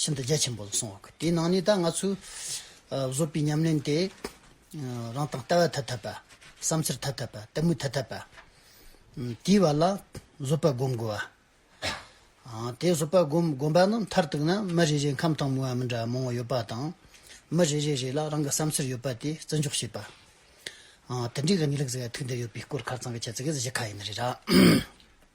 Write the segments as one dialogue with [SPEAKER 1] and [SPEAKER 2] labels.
[SPEAKER 1] ཤིན་ཏུ་རྒྱ་ཆེན་པོ་ལ་སོང་བ་དེའི་ནང་ནས་ད་ང་ཚོས་བཟོས་པའི་ཉམས་ལེན་དེ་རང་དང་ལྟ་བ་ཐ་དད་པ་བསམ་འཆར་ཐ་དད་པ་ལྟད་མོ་ཐ་དད་པ་དེའི་བར་ལ་བཟོད་པ་སྒོམ་དགོས་བ། དེ་བཟོད་པ་སྒོམ་སྒོམ་པ་ནི་མཐར་གཏུགས་ན་མི་རེ་རེའི་ཁམས་དང་མོས་པ་མི་འདྲ་བ་མང་བོ་ཡོད་པ་དང། མི་རེ་རེ་རེ་ལ་རང་གི་བསམ་འཆར་ཡོད་པ་དེ་བརྩི་འཇོག་བྱེད་པ། དེ་འདྲའི་གནས་ལུགས་ཟེར་བ་ཐུགས་འདིར་ཡོད་པའི་སྐོར་ཁ་ཚང་གི་ཁྱད་ཚིག་གི་གཞི་ཁ་ཡིན་ནི་རེད།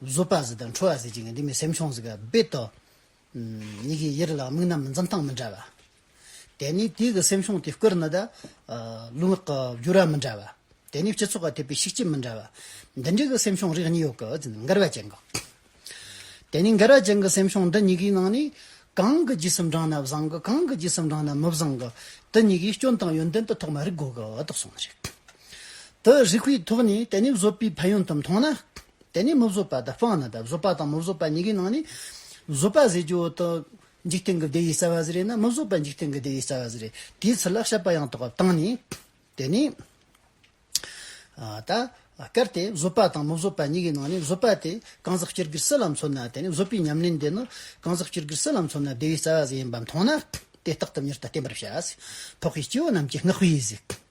[SPEAKER 1] བཟོད་པ་ཟིལ་དང་འཁྲུ་བ་ཟིལ་གྱིས་ངན་འདི་མི་སེམས་ཆུང་ཟིག་ག་དཔེ་ལྟོས། མྱིག་གིས་ཡིད་ལ་མིག་རྣམས་འཛུམ་སྟངས་མི་འདྲ་བ། དེ་ནི་དུས་ཀྱི་སེམས་ཆུང་དེ་བསྐུར་ནི་དང། ལུས་ངག་གི་བསྒྱུར་བ་མི་འདྲ་བ། དེ་ནི་སྤྱི་ཚོགས་ཀྱི་ཐེབས་པའི་ཤུགས་རྐྱེན་མི་འདྲ་བ། འདི་འདྲའི་གི་སེམས་ཆུང་རིགས་གཉིས་ཡོད་གི་ཟིན་འགལ་བ་ཅན་གི། དེ་ནི་འགལ་བ་ཅན་གི་སེམས་ཆུང་འདི་གཉིས་ཀའི་ནང་ནས། གང་གི་རྗེས་སུ་འབྲངས་ན་བཟང་གི་གང་གི་རྗེས་སུ་འབྲངས་ན་མི་བཟང་གི། དེ་གཉིས་ཀའི་སྐྱོན་དང་ཡོན་ཏན་དུ་ཐོག་མར་རིག་དགོས་གི་དོགས་ཟོན་རེད། དེ་རིག་པའི་ཐོག་ནས་དེ་ནི་བཟོད་པའི་ཕན་ཡོན་དུ་མཐོང་ན། དེ་ནས་མི་བཟོད་པ་དང་སྤངས་ན་དང་བཟོད་པ་དང་མི་བཟོད་པ་གཉིས་ཀའི་ནང་ནས། བཟོད་པ་ཟེར་རྒྱུ་དང། འཇིག་རྟེན་གྱི་བདེ་བའི་རྩ་བ་ཟེར་རེ་ན་མི་བཟོད་པ་འཇིག་རྟེན་གྱི་བདེ་བའི་རྩ་བ་ཟེར་རེ། དེའི་ཚུལ་ལ་བཤད་པ་ཡང་དག་པར་བཏང་ནས། དེ་ནས། ད་གལ་ཏེ་བཟོད་པ་དང་མི་བཟོད་པ་གཉིས་ཀའི་ནང་ནས་བཟོད་པ་དེ་གང་ཟག་སྤྱིར་གྱུར་སྲིད་ལ་མཚོན་ན་དེ་ནི་བཟོད་པའི་ཉམས་ལེན་དེ་ནི་གང་ཟག་སྤྱིར་གྱུར་སྲིད་ལ་མཚོན་ན་བདེ་བའི་རྩ་བ་ཟིན་ཡིན་པ་མཐོང་ན། དེ་རྟག་ཏུ་མྱུར་དུ་བསྟན་པར་བྱ། ཕོག་པའི་སྐྱེ་བོ་རྣམས་ཀྱི་བསྔགས་པའི་གཟིགས།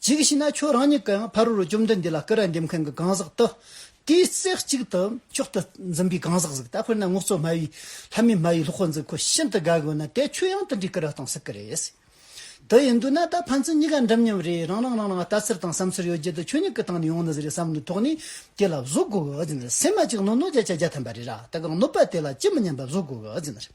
[SPEAKER 1] གཅིག་བྱས་ན་ཁྱོད་རང་གཉིས་ཀ་ཡང་ཕ་རོལ་བཅོམ་ལྡན་འདས་ལ་སྐུ་ར་འདེབས་མཁན་གྱི་གང་ཟག་ཏུ། དེའི་རྩེ་གཅིག་ཏུ་མཆོག་ཏུ་འཛིན་པའི་གང་ཟག་ཟིག་ད་དཔེར་ན་ངོ་གཙོ་སྨྲ་བའི་ལྷ་མིའི་སྨྲ་བའི་ལྷོ་ཁོ་འཛིན་ཁོ་ཤིན་ཏུ་དགའ་དགོས་ན་དེ་ཁྱོད་ཡང་དེ་འདྲའི་སྐུ་ར་གཏོང་སྲིད་ཀྱི་རེད། དེ་ཡིན་དུས་ན་ད་ཕན་ཚུན་གཉིས་ཀ་འགྲིམ་མཉམ་རེད་རང་རང་རང་རང་ལྟ་ཚུལ་དང་བསམ་ཚུལ་ཡོད་རྒྱུ་དེ་ཁྱོད་གཉིས་ཀྱི་སྟེང་ནས་ཡོང་ནི་ཟིག་རེད་བསམ་དུ་ཐོག་ནས་དེ་ལ་བཟོད་དགོས་གི་ཟིག་རེད་སེམས་མ་གཅིག་ནོར་ནོར་བརྒྱ་ཆ་བརྒྱ་ཐོན་པ་རེད་ར་ད་གང་གནོད་པ་དེ་ལ་ཅི་མི་སྙམ་པ་བཟོད་དགོས་གི་ཟིག་རེད།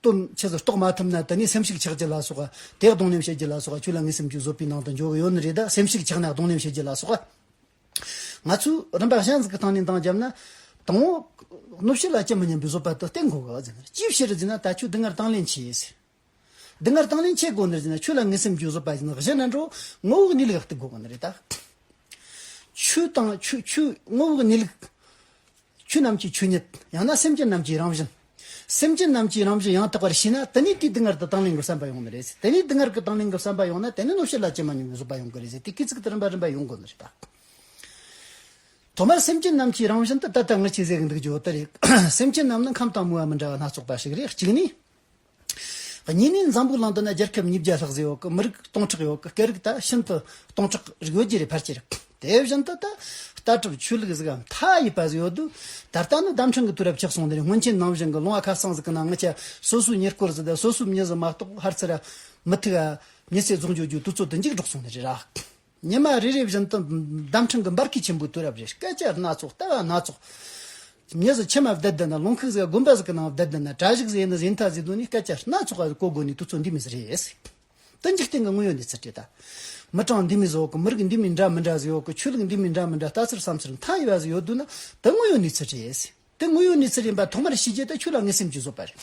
[SPEAKER 1] སྟོན་ཆེད་དུ་རྟོགས་མ་ཐུབ་ན་དེ་ནས་སེམས་ཤུགས་ཆག་གྱི་ལ་སོགས་དེ་གདོང་ལེན་བྱེད་ཀྱི་ལ་སོགས་ཁྱོད་ལ་ངའི་སེམས་ཀྱི་བཟོད་པའི་ནང་དུ་འཇོག་གི་ཡོད་ནི་རེད་ད་སེམས་ཤུགས་ཆག་ན་གདོང་ལེན་བྱེད་ཀྱི་ལ་སོགས་ང་ཚོས་རིམ་པ་གཞན་ཟིག་གི་སྟེང་ནས་འདང་བརྒྱབ་ན། དང་བོ། གནོད་བྱེད་ལ་སྐྱེལ་མི་ཉན་པའི་བཟོད་པ་དེ་སྟེར་དགོས་ག་ཟེར་ན་ཅིའི་ཕྱིར་ཟེར་ན་ད་ཁྱོད་དེ་སྔར་དང་ལེན་བྱས་ཟེར། དེ་སྔར་དང་ལེན་བྱས་དགོས་ནི་ཟེར་ན་ཁྱོད་ལ་ངའི་སེམས་ཀྱི་བཟོད་པ་བཞི་ནི་འགྲོ། ངོ་བོ་ནི་ལེགས་ཏེ་དགོས་གི་ནི་རེད་ད། ཆོས་དང་ཆོས་ཆོས་དངོས་བོའི་གནས་ལུགས། ཆོས་རྣམས་ཀྱི་ཆོས་ཉིད་ཡང་ན་སེམས་ཅན་རྣམས་ཀྱི་རང་བཞིན། སེམས་ཅན་རྣམས་ཀྱི་རང་བཞིན་ཡང་དག་པར་ཤེས་ན་དེ་ནི་དེའི་སྡུག་བསྔལ་དུ་དང་ལེན་གྱི་བསམ་པ་ཡོང་ནི་རེད། དེ་ནི་སྡུག་བསྔལ་གྱི་དང་ལེན་གྱི་བསམ་པ་ཡོང་ན་དེ་ནི་གནོད་བྱེད་ལ་ཅི་མ་རྙེད་པའི་བཟོད་པ་ཡོང་གི་རེད་ཟེར་དེ་སྐད་ཅིག་དུ་རིམ་པ་རིམ་པ་ཡོང་དགོས་ནི་རེད། ཐོག་མར་སེམས་ཅན་རྣམས་ཀྱི་རང་བཞིན་དུ་ད་ལྟ་ངས་ཁྱེད་ཟེར་གྱི་འདུག་ཇོ་དར་ཡིག། སེམས་ཅན་རྣམས་ནི་ཁམས་དང་མུའུ་བ་མི་འདྲ་བ་སྣ་ཚོགས་པ་ཞིག་རེད་གཅིག་ནི། གཉིས་ནི་འཛམ་བུའི་གླིང་འདི་ན་རྒྱལ་ཁབ་ཉིས་བརྒྱ་ལྷག་ཟིན་ཡོད་ཀི་མི་རིགས་སྟོང་ཕྲག་ཡོད་ཀི་སྐད་རིགས་ད་ཤིན་ཏུ་སྟོང་ཕྲག་རིགས་ཡོད་ཀྱི་རེད་ཕལ་ཆེར་རེད། དེ་བཞིན་དུ་ད་ལྟ་གྲུབ་ཆོས་ལུགས་ཟིག་གམ་མཐའ་ཡས་པ་ཟིག་ཡོད་དུས་ད་ལྟ་ནི་ལྡམ་ཕྲན་གྱི་དུས་རབས་ཆགས་སོང་དེ་ནས་སྔོན་ཆད་ནམ་བཞིན་གྱི་ལུང་བ་ཁ་སང་ཟིག་གི་ནང་ངི་ཆ་སོ་སོའི་ཉེར་བསྐོར་ཟིག་དང་སོ་སོའི་མྱི་ཟིག་མ་གཏོགས་ཧར་ཚེ་ར་མི་ཐུག་ཨ་མྱི་ཚེ་རྫོགས་འགྱོད་རྒྱུའི་དུས་ཚོད་དུ་འཇིགས་འགྲོགས་སོང་ནི་རེད་ར། ཉི་མ་རེ་རེ་བཞིན་དུ་འདམ་ཕྲེང་གི་འབར་གས་ཆེན་པོའི་དུས་རབས་རེར་སྐད་ཆ་སྣ་ཚོགས་ལྟ་བ་སྣ་ཚོགས། ཉི་ཟེར་ཕྱེད་མ་བརྡལ་བརྡལ་ན་ལུང་ཁུག་ཟེར་དགོན་པ་ཟེར་གྱི་ནང་བརྡལ་བརྡལ་ན་གྲྭ་བཞུགས་ཟེར་ཡིན་ན་ཟེར་མཐའ་ཟེར་དོན་ནི་སྐད་ཆ་སྣ་ཚོགས་ཀ་གོ་དགོས་ནི་དུས་ཚོད་འདི་མི་ཟེར་རེད་ཟེར། དོན་འཇིག་རྟེན་གྱི་དངོས་ཡོད་གནས་ཚུལ་དེ་དག། མི་གྲངས་འདི་མི་ཟོག་གི་མི་རིགས་འདི་མི་འདྲ་མི་འདྲ་ཟེར་ཡོད་གི་ཆོས་ལུགས་འདི་མི་འདྲ་མི་འདྲ་ལྟ་ཚུལ་བསམ་ཚུལ་མཐའ་ཡས་པ་ཟེར་ཡོད་དུས་ན་དེ་དངོས་ཡོད་གནས་ཚུལ་རེད། དེ་དངོས་ཡོད་གནས་ཚུལ་ཡིན་པ་ཐོག་མར་ཤེས་རྗེས་དེ་ཆོས་ལ་ངེས་སེམས་ཀྱིས་བཟོ་པ་རེད།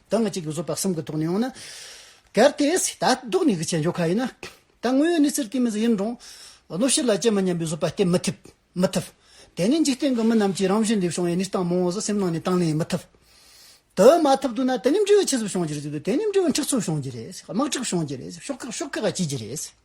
[SPEAKER 1] དང་གཅིག་བཟོད་པ་གསུམ་གྱི་ཐོག་ནས་ཡོང་ན། གལ་ཏེ། ད་གདོད་ནས་གི་ཆད་འཇོག་ཁ་ཡིན་ན། ད་དངོས་ཡོད་གནས་ཚུལ་དེ་མིན་ས་ཡིན་རུང། གནོད་བྱེད་ལ་ལྕེ་མི་སྙམ་པའི་བཟོད་པ་སྟེར་མི་ཐུབ། མི་ཐུབ། དེ་ནི་འཇིག་རྟེན་གྱི་མི་རྣམས་ཀྱིས་རང་བཞིན་ལས་བྱུང་བའི་གནས་སྟངས་མང་བོ་ཟག་སེམས་ནང་ནས་དང་ལེན་མི་ཐུབ། དེ་མ་ཐུབ་དུས་ན་དེ་ནི་འབྲས་བུ་ཆེད་ཟབ་བྱུང་རྒྱུ་རེད་དེ་ནི་འབྲས་བུ་འཁྲིག་ཚུལ་བྱུང་རྒྱུ་རེད་དམག་འཁྲུག་བྱུང་རྒྱུ་རེད་ཤོག་ཁག་ཤོག་ཁག་བྱེད་རྒྱུ་རེད།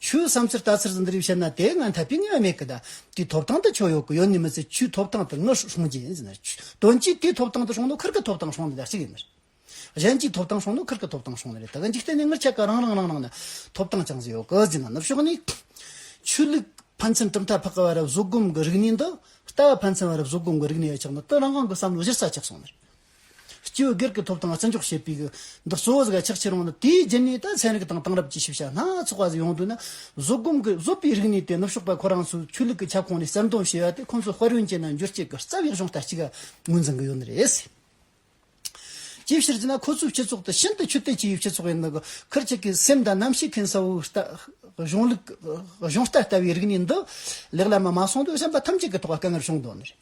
[SPEAKER 1] ཆུའི་བསམ་ཚུལ་ལྟ་ཚུལ་འདི་རིགས་བཤད་ན་དེ་སྔ་འཐབ་པའི་ངེས་པ་མེད་གི། དེའི་ཐོབ་ཐང་དུ་ཆོས་ཡོད་གི་ཡོད་ནི་མི་ཚེ་ཆུའི་ཐོབ་ཐང་དུ་ངས་ཧྲོང་ཅིང་ཟེར་ན། དོན་གཅིག་དེའི་ཐོབ་ཐང་དུ་ཧྲོང་ནོ་ཁུར་གི་ཐོབ་ཐང་ཧྲོང་ནི་རྒྱ་ཆེ་གི་མི་རེད། གཞན་གྱིས་ཐོབ་ཐང་ཧྲོང་ནོ་ཁུར་གི་ཐོབ་ཐང་ཧྲོང་ནི་རེད་ད་གི་འཇིག་རྟེན་ནི་ངར་ཆད་ག་རང་རང་རང་རང་ནི་ཐོབ་ཐང་ཅང་ཟད་ཡོད་གི་ཟེར་ན་ནུབ་ཕྱོགས་ནི། ཆོས་ལུགས་ཕན་ཚུན་གྲུབ་མཐའ་འཕགས་གི་བར་རབས་བཟོ་སྒོམ་གི་རིག་གནས་འདི་ལྟ་བ་ཕན་ཚུན་བར་རབས་བཟོ་སྒོམ་གི་རིག་གནས་ཡོད་ཆགས་ན་དོན་རང་རང་གི་བསམ་བློ་གཞིར་ཟ་ཆགས་སོང་མི་རེད། སྤྱི་བོའི་སྒེར་གྱི་ཐོབ་ཐང་བརྩི་འཇོག་བྱེད་པའི། འདིར་གཙོ་བོ་གཟུགས་ཀྱི་ཆགས་ཆེར་འོངས་ལ་དེའི་རྗེས་ནས་ད་ཚན་རིག་དང་དེང་རབས་ཀྱི་ཤེས་བྱ་སྣ་ཚོགས་པ་ཟིན་ཡོང་དུས་ན། བཟོད་སྒོམ་གྱི་བཟོད་པའི་རིག་གནས་དེ་ནུབ་ཕྱོགས་པ་ཁོ་རང་ཚོའི་ཆོས་ལུགས་ཀྱི་ཁྱབ་ཁོངས་ནས་གསལ་འདོན་བྱས་པ་དེ་ཁོ་ཚོའི་དཔལ་ཡོན་ཅན་དང་འགྱུར་བཅས་ཀྱི་རྩ་བའི་གཞུང་རྟ་གཅིག་ངོས་འཛིན་གྱི་ཡོད་ནི་རེད། ཅིའི་ཕྱིར་ཅེ་ན་ཁོ་ཚོའི་སྤྱི་ཚོགས་དེ་ཤིན་ཏུ་ཆོས་དད་ཅན་ཡོད་སྤྱི་ཚོགས་ཡིན་ནི་ཁིར་གཅིག་གི་སེམས་དང་རྣམ་ཤེས་མཁན་ས་བོའི་གཞུང་ལུགས་གཞུང་རྟ་ལྟ་བུའི་རིག་གནས་འདི་ལེགས་ལམ་ལ་མ་སོང་དུས་བྱམས་པ་ཐམས་ཅད་ཀྱི་ཐོག་ལ་དཀའ་ངལ་བྱུང་དོན་ནི་རེད།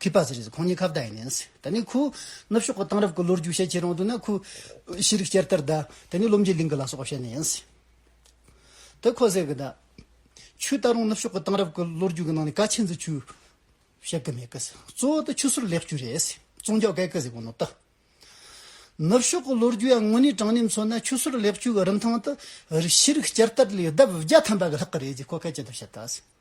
[SPEAKER 1] ཁུ་པ་ཟེར་བ་ཁོང་གཉིས་ཁ་བརྡ་ཡིན་ནས། ད་ནི་ཁོ། ནུབ་ཕྱོགས་ཀྱི་དེང་རབས་ཀྱི་ལོ་རྒྱུས་བཤད་ཆེད་རང་དུ་ན་ཁོ། ཤེས་རིག་བསྐྱར་དར་བརྡ། ད་ནི་བློ་འབྱེད་གླིང་གི་ལ་སོགས་པ་བཤད་ནས་ཡིན། དེ་ཁོ་ཟེར་གི་ད། ཆུ་ད་རུང་ནུབ་ཕྱོགས་ཀྱི་དེང་རབས་ཀྱི་ལོ་རྒྱུས་ཀྱི་ནང་ནས་ཀ་ཆེན་ཚོས་ཆུ། བཤད་གི་མེད་གི། གཙོ་བོ་དེ་ཆུ་སོར་ལེགས་བཅོས་རེད། ཙོང་ཇའོ་ཀའེ་ཀི་ཟེར་བ་ནོར་ལྟ། ནུབ་ཕྱོགས་ཀྱི་ལོ་རྒྱུས་ཡང་དངོས་གནས་དྲང་གནས་མཚོན་ན་ཆུ་སོར་ལེགས་བཅོས་ཀྱི་རིན་ཐང་དུ། ཤེས་རིག་བསྐྱར་དར་ལས་ལྡབ་བརྒྱ་ཐམ་པ་གི་ལྷག་གི་རེད་ཅེས་ཁོ་སྐད་ཅིག་ཏུ་བཤད་ལྟ།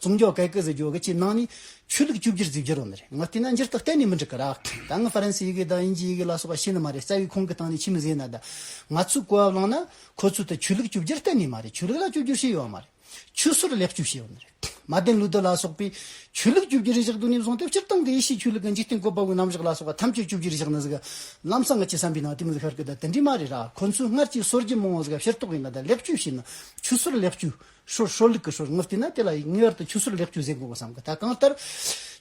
[SPEAKER 1] ཙུང་རྒྱོ་གའི་ཀི་ཟི་རྒྱོ་གའི་ཕྱི་ནང་ནི། ཆོས་ལུགས་བཅུ་བརྒྱུད་རྫིག་རྒྱུ་རུ་ནི་རེད། ང་བལྟས་ན་འགྱུར་ལྡོག་གཏན་ནས་མི་འགྲིག་གི་ར། ད་ངས་ཧྥ་རན་སི་ཡི་གེ་དང་དབྱིན་ཇིའི་ཡི་གེ་ལ་སོགས་པ་ཤེས་ནི་མ་རེད་རྩ་བའི་ཁོང་གི་སྟེང་ནས་ཁྱིམ་བཟས་ན་ད། ང་ཚོས་གོ་བ་བླངས་ན། ཁོ་ཚོས་ད་ཆོས་ལུགས་བཅུ་བརྒྱུད་གཏན་ནས་མ་རེད་ཆོས་ལུགས་ལ་བཅུ་བརྒྱུད་ཞེས་ཡོད་མ་རེད། ཆོས་སྲོལ་ལེགས་བཅུ་ཞེས་ཡོད་ནི་རེད། མ་བདེན་ལུགས་བདུན་ལ་སོགས་པའི། ཆོས་ལུགས་བཅུ་བརྒྱུད་རིགས་བཞག་དུས་ནས་བཟུང་སྟེ་སྤྱིར་བཏང་གི་ཡེ་ཤེས་ཆོས་ལུགས་ཀྱི་འཇིག་རྟེན་བཀོད་པ་བའི་རྣམ་གཞག་ལ་སོགས་པ་ཐམས་ཅད་བཅུ་བརྒྱུད་རིགས་བཞག་ནི་ཟིག། ལམ་སང་ང་ཅི་བསམ་པའི་ནང་བསྟན་མི་ཤར་གི་ད་དེ་འདྲས་མ་རེད་ར་ཁོ་ཚོས་སྔར་གྱི་སྲོལ་རྒྱུན་མང་བོ་ཟིག་ཕྱིར་རྟོགས་གིན་ད་ལེགས་བཅུ་ཞེས་ནི། ཆོས་སྲོལ་ལེགས་བཅུ། ཧྲོལ་ཧྲོལ་ལུག་གི་ཧྲོལ་ངག་བསྟན་ན་དེ་ལ་ངེས་བར་དུ་ཆུ་སོལ་ལེགས་བཅུག་ཟེར་དགོས་པར་བསམ་གི་ད་གང་ལྟར།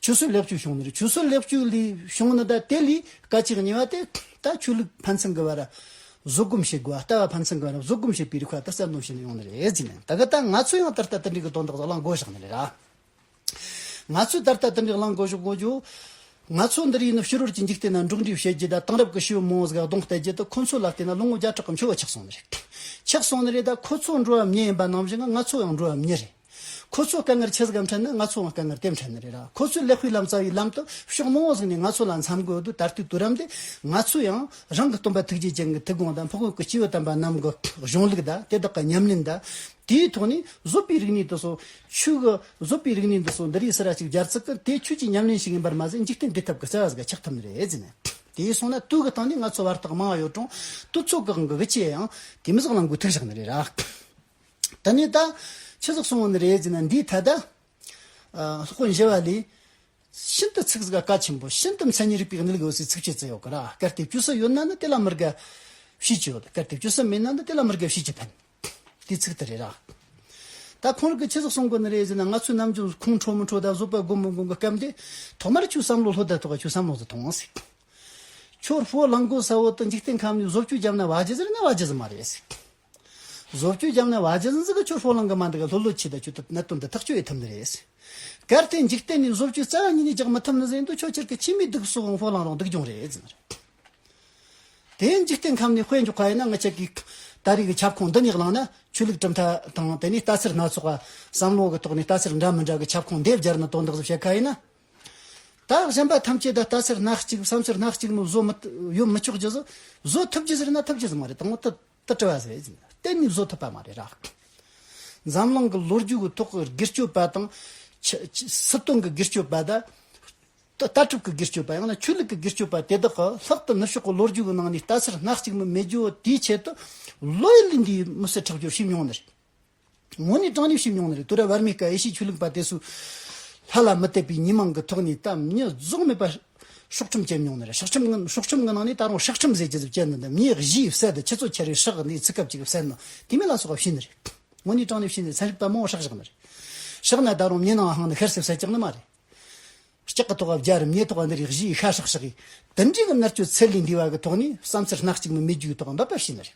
[SPEAKER 1] ཆུ་སོལ་ལེགས་བཅུག་བྱུང་ནི་རེད་ཆུ་སོལ་ལེགས་བཅུག་ལས་བྱུང་ནི་ད་དེ་ལས་ཀ་ཅིག་ཉེ་བ་དེ་ད་ཆོས་ལུགས་ཕན་ཚུན་གི་བར་བཟོད་སྒོམ་བྱེད་དགོས་བ་ལྟ་བ་ཕན་ཚུན་གི་བར་བཟོད་སྒོམ་བྱེད་པའི་རིགས་བར་དུ་བསལ་འདོམས་བྱས་ནས་ཡོང་ནི་རེད་ཟེར་ནས་ད་གི་ད་ང་ཚོས་ཡང་ད་ལྟ་དེ་འདྲའི་གི་དོན་དག་ཟོག་ལ་འགོ་བཞག་ནི་རེད། ང་ཚོས་ད་ལྟ་དེ་འདྲའི་རླངས་འཁོར་ཞིག་བཀོལ་རྒྱུ། ང་ཚོ་འདིར་ཡིན་ནོ་ཕྱི་རོལ་གྱི་འཇིག་རྟེན་ནང་འབྲོག་འགྲེལ་བྱེད་རྒྱུ་དང་དེང་རབས་ཀྱི་ཤི་བོ་མོའོ་སྒ་གདོང་གཏད་རྒྱུ་དེ་ཁོ་ཚོའི་ལག་ཏུ་ན་ལོ་ངོ་བརྒྱ་ཕྲག་གི་འཁྱོལ་བ་ཆགས་སོང་ནི་རེད། ཆགས་སོང་ནི་རེད་ད་ཁོ་ཚོ་འགྲོ་བའམ་ཉལ་ཡིན་པ་ནང་བཞིན་ང་ཚོ་ཡང་འགྲོ་བའམ་ཉལ་རེད། ཁོ་ཚོའི་དཀའ་ངལ་ཆེ་ཟ་གམ་ཕྲན་ནི་ང་ཚོའང་དཀའ་ངལ་དེ་ཕྲན་ནི་རེད། ཁོ་ཚོའི་ལེགས་སྤེལ་ལམ་རྩ་བའི་ལམ་དུ་ཤོག་མོའོ་སྒ་ནས་ང་ཚོ་ལ་མཚམས་འགོད་དུས་ད་ལྟའི་དུས་རབས་འདི་ང་ཚོས་ཡང་རང་གི་སྟོན་པ་ཐུགས་རྗེ་ཅན་གྱི་ཐུགས་དགོངས་དང་ཕོག་ཡུལ་གྱི་སྐྱེས་བུ་དམ་པ་རྣམས་ཀྱི་གཞུང་ལུགས་དང་དེ་དག་གི་ཉམས་ལེན་དང་དེའི་ཐོག་ནས་བཟོ་པའི་རིག་གནས་དུ་སོང། ཆོས་གོས་བཟོ་པའི་རིག་གནས་འདི་སོགས་འདི་རིགས་སེ་ར་གཅིག་སྦྱར་ཚུལ་གྱི་དེ་ཁྱོད་ཀྱི་ཉམས་ལེན་ཞིག་ཡིན་པར་མ་ཟད་འཇིག་རྟེན་འབྲི་ཐབས་ཀྱི་རྩལ་བ་ཟིག་ག་ཆགས་ཐུབ་ནི་རེད་ཟེར་ནས། དེའི་སོང་ན་དུས་ཀྱི་སྟངས་ནི་ང་ཚོ་བར་ཐག་མང་བ་ཡོད་གྲང། དུས་ཚོད་བཀག་འགོག་གི་ཆེད་ཡང་དེ་མི་ཟག་ལང་དགོས་ཐུག་བཞག་ནི་རེད་ར། དེ་ནས་ད་ཆོས་ཟག་སོང་བ་ནི་རེད་ཟེར་ནས་འདིའི་ཐད་དང། ལྷག་པར་མཇལ་བ་ལས། ཤིན་ཏུ་ཚིག་ཟིག་ག་ཆེན་པོ་ཤིན་ཏུ་མཚན་ཉིད་རིག་པའི་གནད་ལུགས་ཡོད་སའི་ཚིག་ཆོས་ཙི་ཡོད་གི་ར་སྐལ་ལྟས་བཅུ་སྲི་ཡོད་ན་ནི་དེ་ལ་མི་དགའ་བཤིས་ཀྱི་ཡོད་སྐལ་ལྟས་བཅུ་སྲི་མེད་ན་ནི་དེ་ལ་མི་དགའ་བཤིས་ཀྱི་ཕན། དེ་ཚིག་དེ་རེད་ར། ད་ཁོང་རང་གི་ཆེ་ཚགས་སོང་དགོས་ནི་རེད་ཟེར་ན་ང་ཚོའི་ནམ་རྒྱུན་ཁོང་ཁྲོ་མི་ཁྲོ་དང་བཟོད་པ་སྒོམ་མི་སྒོམ་གི་སྐབས་འདི་ཐོག་མར་ཆུ་བསམ་བློ་ལྷོད་དེ་ཐོག་ཆུ་བསམ་བློ་དེ་ཐོང་ཟེར། ཁྱོད་ལྷོད་ལང་དགོས་ས་བོ་དང་འཇིག་རྟེན་ཁམས་ནས་བཟོ་བཅོས་བརྒྱབ་ན་བ་རྗེ་ཟེར་ན་བ་རྗེ་ཟེར་མ་རེད་ཟེར། བཟོ་བཅོས་བརྒྱབ་ན་བ་རྗེ་ཟེར་ཟེར་གི་ཁྱོད་ལྷོད་ལང་གི་མ་འདུག་ག་ལྷོད་ལྷོད་བྱས་ད་ཁྱོད་གནད་དོན་འདི་ཐག་གཅོད་ཨེ་ཐུབ་ནི་རེད་ཟེར། གལ་ཏེ་འཇིག་རྟེན་ནས་བཟོ་བཅོས་རྩ་བ་ཉིད་ནས་རྒྱག་མི་ཐུབ་ནི་ཟེར་འདུག་ཁྱོད་ཁྱེར་གི་ཁྱིམ་མི་སྡུག་སོགས་ལྷོད་ལང་རོགས་སྡུག་གྱོང་རེད་ཟེར། དེའི་འཇིག་རྟེན་ཁམས་ནས་དཔེ་འཇོག་ག་ཡིན་ན་ང་ཅག་གིས་ད་རེས་ཀྱི་ཁྱབ་ཁོངས་འདི་ཉིད་བླངས་ན་ཆོས་ལུགས་གྲུབ་མཐའ་དང་དེ་ནས་ལྟ་ཚུལ་སྣ་ཚོགས་བསམ་བློ་གི་ཐོག་ནས་ལྟ་ཚུལ་འདྲ་མི་འདྲ་གི་ཁྱབ་ཁོངས་འདེབས་སྦྱར་ནི་དོན་དག་གཟུགས་བྱད་ག་ཡིན་ན། ད་གཞན་པ་ཐམས་ཅད་ད་ལྟ་ཚུལ་སྣ་གཅིག་བསམ་ཚུལ་སྣ་གཅིག་ནི་བཟོ་མི་ཡོད་མི་ཆོག་རྒྱུ་བཟོ་ཐུབ་རྒྱུ་ཟེར་ན་ཐུབ་རྒྱུ་ཟིག་མ་རེད་དང། དུ་བྲི་བ་ཟེར་བས་གཏན་ནས་བཟོ་ཐུབ་པ་མ་རེད་ར། འཛམ་གླིང་གི་ལོ་རྒྱུས་ཀྱི་ཐོག་གི་སྒེར་གཅོད་པ་དང། སྲིད་དོན་གྱི་སྒེར་གཅོད་པ་དང། ལྟ་གྲུབ་ཀྱི་སྒེར་གཅོད་པ་ཡང་ན་ཆོས་ལུགས་ཀྱི་སྒེར་གཅོད་པ་དེ་དག་གི་ལྷག་ཏུ་ནུབ་ཕྱོགས་ཀྱི་ལོ་རྒྱུས་ཀྱི་ནང་ནས་ལྟ་ཚུལ་སྣ་གཅིག་མི་མེད་རྒྱུ་དེའི་ཆེད་དུ་ལོ་ཡི་ལས་འདིའི་མི་སེར་ཁྲག་སྦྱོར་བྱས་མྱོང་ནི་རེད། ངོ་ནི་སྤྲང་རིགས་ཤིག་མྱོང་ནི་རེད་དུར་བར་མི་དཀའ་ཨེ་ཤེས་ཆོས་ལུགས་པ་དེ་སུ་ལྷ་ལ་མི་དད་པའི་ཉིན་མང་གི་ཐོག་ནས་གཏམ་རྙི་རྫོགས་མེད་པ་ཤོག་ཁྲིམས་བཅད་མྱོང་ནི་རེད་ཤོག་ཁྲིམས་ངན་ཤོག་ཁྲིམས་ངན་ནང་ནས་ད་རུང་ཧྲག་ཁྲིམས་ཟེར་ཇི་ཙམ་བཅད་འདི་འདི་མིའི་གཞིའི་བསད་དེ་ཁྱི་ཚོ་ཁྱེར་བའི་ཧྲག་གནས་ཚིག་སྐབས་ཅིག་བསད་ནི་དེ་མིན་ལ་སོགས་པ་བཤད་ནི་རེད་ངོ་ནི་སྤྲང་ལེབ་བཤད་ནི་ཚན་རིག་པ་མང་བོ་ཧྲག་བཞག་ནི་རེད་བཞག་ན་ད་རུང་མྱི་ནང་ཧང་ནི་ཤར་སེ་བསད་ཀྱག་ནི་མ་རེད་ལྕག་གི་ཐོག་ཨ་བརྒྱ་རུ་མྱི་ཐོག་འདི་རིགས་གཞིའི་ཤ་ཧྲག་ཧྲག་གིས་དེ་འདྲའི་གི་མནར་གཅོད་ཚད་ལས་འདས་པ་གི་ཐོག་ནས་བསམ་ཚུལ་སྣ་གཅིག་ནི་མི་རྒྱུའི་ཐོག་འབབ་པ་བྱས་ནི་རེད།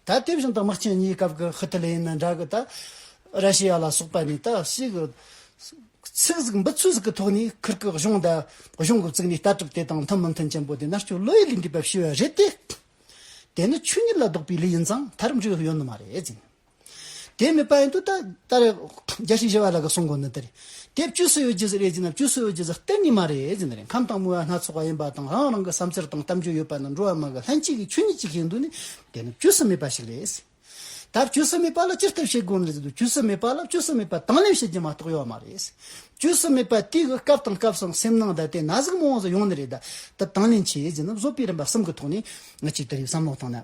[SPEAKER 1] ད་དེ་བཞིན་དུ་དམག་ཆེན་གཉིས་སྐབས་ཀྱི་ཧི་ཏི་ལེའི་ནི་འདྲ་གི་ད་ར་ཤི་ཡ་ལ་སོགས་པ་ནི་ད་ཤི་གི་ཚིག་ཟིག་འབུ་ཚུལ་ཟིག་གི་ཐོག་ནས་ཁིར་གི་གཞུང་ད་གཞུང་གི་བཙུགས་ནས་ལྟ་གྲུབ་དེ་དང་མཐུན་མི་མཐུན་ཅན་པོ་དེ་མནར་གཅོད་བློ་ཡི་ལས་འདྲིས་པ་ཤི་བ་རེད་དེ། དེ་ནི་ཆོས་ཉིད་ལ་ལྡོག་པའི་ལས་ཡིན་ཙང་མཐར་འབྲས་བུ་ཡོད་ནི་མ་རེད་ཟེར་ནས། དེ་མེད་པ་ཡིན་དུ་ད་རེ་རྒྱ་ཤིག་བཞེས་པ་ལ་ག་སོང་གོ་ནི་ད་རེ། དེ་བཅུ་སུ་ཡོད་རྒྱུ་རེད་ཅེ་ན་བཅུ་སུ་ཡོད་རྒྱུ་གཏན་ནས་མ་རེད་ཅེ་ན་རེ་ཁམས་དང་མོ་ཡ་སྣ་ཚོགས་པ་ཡིན་པ་དང་རང་རང་གི་བསམ་འཆར་དང་གཏམ་རྒྱུད་ཡོད་པ་ན་འགྲོ་བ་མ་གི་ལྷན་སྐྱེས་ཀྱི་ཆོས་ཉིད་ཅིག་ཡིན་དུ་ནི་དེ་ནི་བཅུ་སུ་མེད་པ་ཞིག་རེད། ད་བཅུ་སུ་མེད་པ་ལ་ཅི་ཐུབ་བྱེད་དགོས་ནི་ཟེར་དུ་བཅུ་སུ་མེད་པ་ལ་བཅུ་སུ་མེད་པ་དང་ལེན་བྱེད་རྒྱུ་མ་གཏོགས་ཡོད་མ་རེད། བཅུ་སུ་མེད་པ་དེའི་གི་སྐབས་དང་སྐབས་སམ་སེམས་ནང་ད་དེ་ན་ཟུག་མང་བ་ཟུག་ཡོང་ནི་རེད་ད་དང་ལེན་བྱེད་ཅེ་ན་བཟོད་པའི་རིམ་པ་གསུམ་གི་ཐོག་ནས་ང་ཅིག་ད་རེ་བསམ་བློ་བཏང་ན།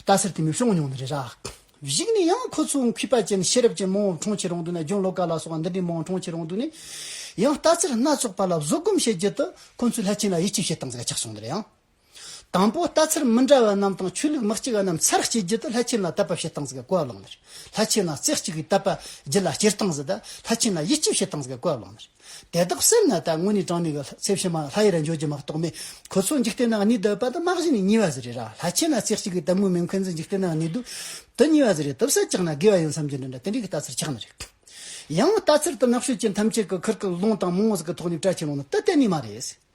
[SPEAKER 1] རྟ་སེར་དེ་མི་ཤོང་མྱོང་ནི་རེད་ར། གཞིགས་ནས་ཡང་ཁོ་ཚོའི་གུས་པ་ཅན་ཤེས་རབ་ཅན་མོའོ་ཁྲོང་ཆེ་རོང་དུ་ནས་རྒྱུན་ལོ་ཀ་ལ་སོགས་འདི་འདྲའི་མོའོ་ཁྲོང་ཆེ་རོང་དུ་ནས་ཡང་རྟ་སེར་སྣ་ཚོགས་པ་ལ་བཟོད་སྒོམ་བྱེད་རྒྱུ་དེ་ཁོ་ཚོའི་ལྷ་ཆེན་ལ་ཡིད་ཆེས་བྱེད་སྟངས་ཟེར་ཡ་ཆགས་སོང་འདི་རེད་ཡང། དང་པོ་རྟ་སེར་མི་འདྲ་བ་རྣམས་དང་ཆོས་ལུགས་མི་གཅིག་པ་རྣམས་ཚར་བསྐྱེལ་རྒྱུ་དེ་ལྷ་ཆེན་ལ་དད་པ་བྱེད་སྟངས་ཟེར་གོ་ལོང་ནི་རེད། ལྷ་ཆེན་ལ་རྩེ་གཅིག་གིས་དད་པ་རྒྱུད་ལ་སྐྱེལ་སྟངས་ཟེར་དེ་ལྷ་ཆེན་ལ་ཡིད་ཆེས་བྱེད་སྟངས་ཟེར་གོ་ལོང་ནི་རེད། དེ་དག་སེམས་ན་ད་དངོས་ནས་དྲངས་ནས་གི་ཚེ་བྱེ་མ་ལྷ་ཡི་ར་འབྱོར་གྱི་མ་གཏོགས་མེད། ཁོ་ཚོ་འཇིག་རྟེན་ན་གནས་དུ་བབ་པ་དང་དམག་བཞི་ནས་གཉིས་བ་ཟེར་རེད་ར་ལྷ་ཁྱེད་ན་ཚེ་གཅིག་གི་དམ་དགོན་མེད་མཁན་ཚོ་འཇིག་རྟེན་ན་གནས་དུ་དུ་གཉིས་བ་ཟེར་རེད་དུ་བསད་ཅག་ན་དགེ་བ་ཡོད་བསམ་རྒྱུ་འདི་འདྲ་དེ་འདྲའི་གི་ལྟ་ཚུལ་ཆགས་ནི་རེད། ཡང་ལྟ་ཚུལ་དུ་ནག་ཤོད་ཅན་ཐམས་ཅད་གི་ཁུར་ཀི་ལོང་དང་མོང་བཟི་གི་ཐོག་ནས་བཀྲ་ཆེན་ལོང་ན་དུ་གཏན་ནས་མ་རེད།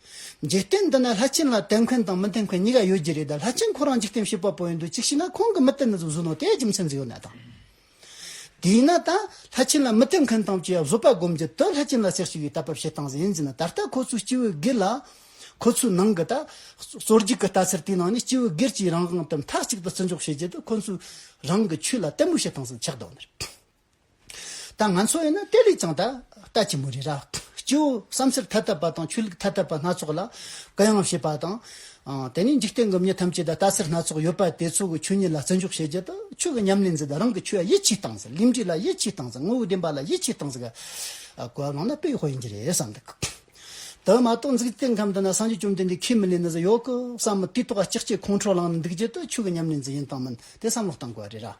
[SPEAKER 1] འཇིག་རྟེན་འདི་ན་ལྷ་ཆེན་ལ་དད་མཁན་དང་མི་དད་མཁན་གཉིས་ཀ་ཡོད་ཀྱི་རེད་ད་ལྷ་ཆེན་ཁོ་རང་འཇིག་རྟེན་ཞི་བ་པོ་ཡིན་དུས་གཅིག་ཤི་ན་ཁོང་གི་མི་དེ་ནི་གཟུགས་ནོར་དེའི་རྒྱུ་མཚན་ཟིག་ཡོད་ན་དང། དེས་ན་ད་ལྷ་ཆེན་ལ་མི་དད་མཁན་དང་བཅས་བཟོད་པ་སྒོམ་གྱི་དུས་ལྷ་ཆེན་ལ་སེར་ཞིག་ཡོད་ལྟ་བབ་བྱེད་སྟངས་ཟིག་ཡིན་ཟིན་ན་ད་ལྟ་ཁོ་ཚོའི་སྤྱི་བོའི་སྒེར་ལ། ཁོ་ཚོའི་ནང་གི་ད་གསོ་རྒྱུག་གི་ལྟ་ཚུལ་དེའི་ནང་ནས་སྤྱི་བོའི་སྒེར་གྱི་རང་དབང་དེ་མཐའ་གཅིག་ཏུ་བརྩི་འཇོག་བྱེད་ཀྱི་དུས་ཁོ་ཚོའི་རང་གི་ཆོས་ལ་དད་མོས་བྱེད་སྟངས་ཟིག་ཆགས་འདུག་ཨ་མི་རི། ད་ང་ཚོ་ཡིན་ན་དེ་ལས་ཀྱང་ད་ལྟ་ཆེན་པོ་རེད་ར། སྐྱེ་བོ་བསམ་ཚུལ་ཐ་དད་པ་དང་ཆོས་ལུགས་ཐ་དད་པ་སྣ་ཚོགས་ལ་བཀའ་ཡང་བྱེད་པ་དང། དེ་ནས་འཇིག་རྟེན་གྱི་མྱི་ཐམས་ཅད་ལ་ལྟ་སེལ་སྣ་ཚོགས་ཡོད་པ་དེ་ཚོ་གི་ཆོས་ཉིད་ལ་བརྩི་འཇོག་བྱེད་རྒྱུ་དང་ཆོས་ཀྱི་ཉམས་ལེན་ཟེར་དང་རང་གི་ཆོས་ཡིད་ཆེས་བཏང་ཟེར་གླིང་འདྲེ་ལ་ཡིད་ཆེས་བཏང་ཟེར་དངོས་བོ་བདེན་པ་ལ་ཡིད་ཆེས་བཏང་ཟེར་ག་གོ་གླང་ན་དཔེ་ཧོ་ཡིན་གྱི་རེད་བསམ་འདུག་གི། དེ་མ་གཏོགས་འཇིག་རྟེན་ཁམས་འདི་ན་སངས་རྒྱས་བཅོམ་ལྡན་འདས་ཁས་མི་ལེན་ན་ཟེར་ཡོད་གི་བསམ་མི་དུས་ཐོག་ལྕགས་ཀྱི་ཁོང་ཁྲོ་ལངས་ནས་འདུག་རྒྱུ་དེ་ཆོས་ཀྱི་ཉམས་ལེན་ཟེར་ཡིན་དང་མིན་དེ་བསམ་བློ་བཏང་དགོས་པ་རེད་ར།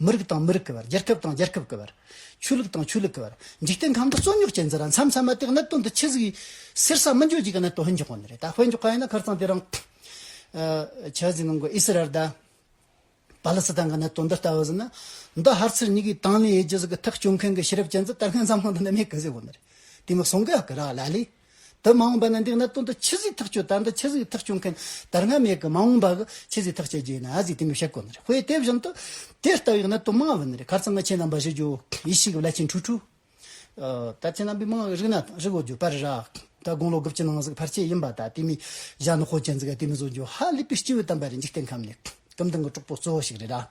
[SPEAKER 1] མི་རིགས་དང་མི་རིགས་ཀྱི་བར། རྒྱལ་ཁབ་དང་རྒྱལ་ཁབ་ཀྱི་བར། ཆོས་ལུགས་དང་ཆོས་ལུགས་ཀྱི་བར། འཇིག་རྟེན་ཁམས་འདི་རྩོད་རྙོག་ཅན་འདི་ར་མཚམས་མཚམས་མ་དེ་གནད་དོན་འདི་ཆི་ཟིག་ཡིན། སེར་ས་མི་འཇོན་ཅིག་གི་གནད་དོན་ཧོན་འཇོག་གོ་ནི་རེད་ད་ཧོན་འཇོག་ག་ཡིན་ན་ཁར་ཚང་དེ་རང། ཆ་ཟིག་ནང་གི་ཨི་སི་རལ་ད། པ་ལི་སི་ཐན་གི་གནད་དོན་འདི་ལྟ་བུ་ཟིན་ན། འདི་ཧར་ཚིར་ཉིག་གིས་དང་ལེན་ཡེ་རྒྱུ་ཟིག་གི་ཐག་གཅོད་མཁན་གི་ཤེས་རབ་ཅན་འདི་ད་སྔན་འཛམ་གླིང་འདི་ནས་མེད་གི་ཟིག་གོ་ནི་རེད་དེ་མི་སོང་གི་ཨ་ཀི་ར་ལ་ལས། དུ་མ་འོངས་པ་ན་འདི་གནད་དོན་དུ་ཆི་ཟིག་ཐག་གཅོད་དང་འདི་ཆི་ཟིག་ཐག་གཅོད་མཁན་དར་ནག་མེད་གི་མ་འོངས་པ་གི་ཆི་ཟིག་ཐག་གཅད་རྒྱུ་ཡིན་ན་ཨ་ཟིག་དེ་མི་བཤད་དགོས་ནི་རེད་དཔེ་དེ་བཞིན་དུ་དེ་ལྟ་བུའི་གནད་དོན་མང་བ་ནི་རེད་གར་ཚང་གི་ཁྱེད་རྣམ་པ་བཞི་རྒྱུ་ཡིད་བཞིན་གི་བླ་ཆེན་ཁྲུས་ཁྲུས། ད་ཁྱེད་རྣམ་པའི་མིང་རིག་ན་དང་རིག་འོ་རྒྱུ་པར་ར་ད་དགུང་ལོ་དགུ་བཅུ་ནང་ཟིག་ཕར་ཆེ་ཡིན་པ་ད་དེ་མི་བཞག་ནི་ཧོ་ཅན་ཟིག་ག་དེ་མི་བཟོ་རྒྱུ་ཧ་ལས་པའི་སྐྱེ་བོའི་དམ་པ་རེད་འཇིག་རྟེན་ཁམས་ནི་གུམ་ལྡིང་གི་གྲོགས་པོ་གཙོ་བོ་ཞིག་རེད་ར།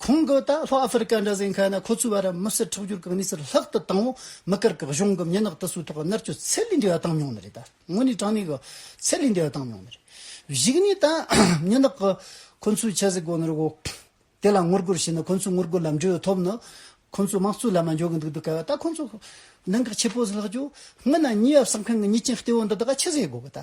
[SPEAKER 1] ཁོང་གིས་ད་ལྷོ་ཨ་ཧྥེ་རི་ཀ་འདྲ་ཟེར་མཁན་ནི་ཁོ་ཚོའི་བར་མི་སེར་ཁྲག་སྦྱོར་གྱི་གནས་ཚུལ་ལྷག་ཏུ་དྭངས་བོ་མི་དཀར་གྱི་གཞུང་གི་མྱི་ནག་དུ་སུའི་ཐོག་གི་མནར་གཅོད་ཚད་ལས་འདས་པ་བཏང་མྱོང་ནི་རེད་ད་དངོས་གནས་དྲང་གནས་ཀྱི་ཚད་ལས་འདས་པ་བཏང་མྱོང་ནི་རེད་གཞིགས་ནས་ད་མྱི་ནག་གི་ཁོ་ཚོའི་ཆེ་གཟིགས་སྒོ་ནས་རོགས་དེ་ལ་ངོ་རྒོལ་བྱས་ནས་ཁོ་ཚོའི་ངོ་རྒོལ་ལ་འབྲེལ་ཐོབ་ནི་ཁོ་ཚོའི་དམག་གཙོའི་ལམ་ལ་འཇོག་གི་འདུག་འདི་ག་བ་ད་ཁོ་ཚོ་གནད་འགག་ཆེ་པོ་ཟིག་ལྷག་བཅུ་ལྔ་ན་མྱི་ཡབ་གསང་མཁན་གྱི་མྱི་ཅན་ལྟེ་བོ་འདི་དག་ཆེ་གཟིགས་སྒོ་གི་ད།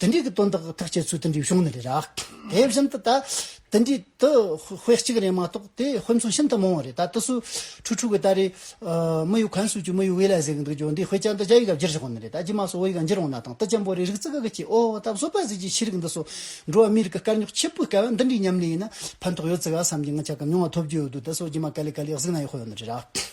[SPEAKER 1] དེ་འདྲའི་དོན་དག་ཐག་བཅད་ཚུལ་དེ་འདྲའི་གཞུང་ནི་རེད། དེ་བཞིན་དུ་ད་དེ་འདྲའི་དུ་དཔེ་གཅིག་རེད་མ་གཏོགས་དེ་དཔེ་མཚོན་ཤིན་ཏུ་མང་བ་རེད་ད་དུ་སུ་ཁྲུ་ཁྲུ་གི་ད་རེས་མི་ཡུལ་གངས་སུ་ཅུ་མི་ཡུལ་དབུས་ལ་ཟེར་གི་འདུག་ཅོ་འདི་དཔེ་ཅན་དུ་རྒྱ་ཡིག་ལ་བསྒྱུར་ཆོག་གི་མི་རེད་ད་རྗེས་མ་སུ་བོ་ཡིག་ལ་འགྱུར་འོང་ན་དང་དུ་ཅན་པོ་རེ་རིག་རྩིས་དགའ་གི་ཅི་ཨོ་ད་བཟོད་པ་ཟིག་ཅིག་ཤེས་རིག་འདི་སོ་འགྲོ་བ་མིའི་རིགས་ཀྱི་དཀའ་རྙོག་ཆེ་པོའི་སྐལ་བ་འདི་འདྲའི་མཉམ་ལས་ཡིན་ན་ཕན་ཐོག་ཡོད་རྩི་ག་བསམ་གྱི་ང་ཅག་གི་མྱོང་བ་ཐོབ་རྒྱུ་ཡོད་འདུག་ད་སོ་རྗེས་མ་ག་ལེ་ག་ལེ་གཟིགས་ན་ཡག་ཤོས་ཡོད་ནི་རེད།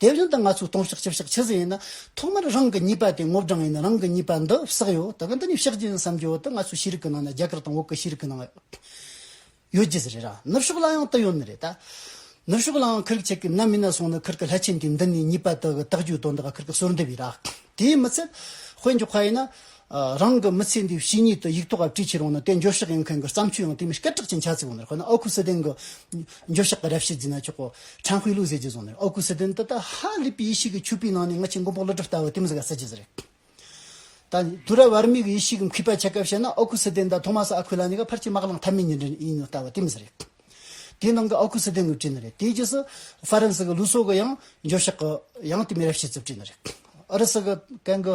[SPEAKER 1] དེ་བཞིན་དུ་ང་ཚོའི་སྟོང་ཕྱག་ཆིག་ཕྱག་ཆུད་ཟོས་ཡིན་ན། ཐོག་མར་རང་གི་གཉིས་པ་དེ་སྔོ་བགྲང་ཡིན་རང་གི་གཉིས་པ་འདི་བསགས་ཡོད་དགོས་འདི་ནི་ཕྱག་རྒྱ་ཡིན་བསམ་རྒྱུ་འོག་ཏུ་ང་ཚོའི་ཤེས་རིག་གི་ནང་ན་རྒྱ་གར་དང་འོག་གི་ཤེས་རིག་གི་ནང་ཡོད་རྒྱུ་རེད་རང་ནུབ་ཕྱོགས་ལ་ཡང་དེ་ཡོད་ནི་རེད་ད། ནུབ་ཕྱོགས་ལའང་ཁིར་ཁྱེད་ཀྱི་ནམ་མི་ན་སོང་ནི་ཁིར་གྱི་ལྷ་ཆེན་དེ་འདི་ནི་གཉིས་པ་དེ་གི་རྟགས་རྒྱུད་དོ་འདི་ག་ཁིར་གྱི་གསོལ་འདེབས་ཡིན་ར་དེའི་མི་ཚད་དཔེ་འཇོག་ཁ་ཡིན་ན། རང་གི་མི་ཚེ་འདིའི་བྱས་ཉེས་དེ་ཡིག་ཐོག་ག་བྲིས་ཕྱིར་འོང་ན་དེ་འགྱོད་བཤགས་ཡིན་མཁན་གྱི་བརྩམས་ཆོས་ཡང་དེ་མིན་སྐད་གྲགས་ཅན་ཆ་ཚིག་འོང་ནི་ཁོ་ན་ཨོ་ཁུ་སི་ཐན་གྱི་འགྱོད་བཤགས་ཀྱི་རབ་བྱེད་འཛིན་ན་ཆོག་གོ། ཁྲང་ཧུའེ་ལུའུ་ཟེར་གྱིས་བཟུང་ནི་ཨོ་ཁུ་སི་ཐན་འདི་ད་ཧ་ལི་པི་ཡེ་ཤེས་ཀྱི་ཆོས་པའི་ནང་ནས་སྔ་ཕྱི་མགོན་པོ་ཀླུ་སྒྲུབ་ལྟ་བུ་དེ་མི་ཟེར་ག་ཟེར་གྱི་ཟེར། ད་དུ་ར་བར་མིག་ཡེ་ཤེས་ཀྱི་མཁས་པ་ཆེ་ཁ་བཤད་ན་ཨོ་ཁུ་སི་ཐན་ད་ཐོ་མ་སི་ཨ་ཁུ་ལ་ནི་ག་ཕར་ཆེ་དམག་ལང་ཐ་མའི་ཉེར་འབྲེལ་ཡིན་ནོ་ལྟ་བུ་དེ་མི་ཟེར། དེའི་ནང་གི་ཨོ་ཁུ་སི་ཐན་གྱི་བྲིས་ནི་རེད་དེའི་རྗེས་སུ་ཧྥ་རན་སི་གི་ལུའུ་སོ་གྱི་ཡང་འགྱོད་བཤགས་ཀྱི་ཡང་དེ་མི་རབ་བྱེད་ཚུལ་བྲིས་ནི་རེད། ཨུ་རུ་སི་གི་གན་གི།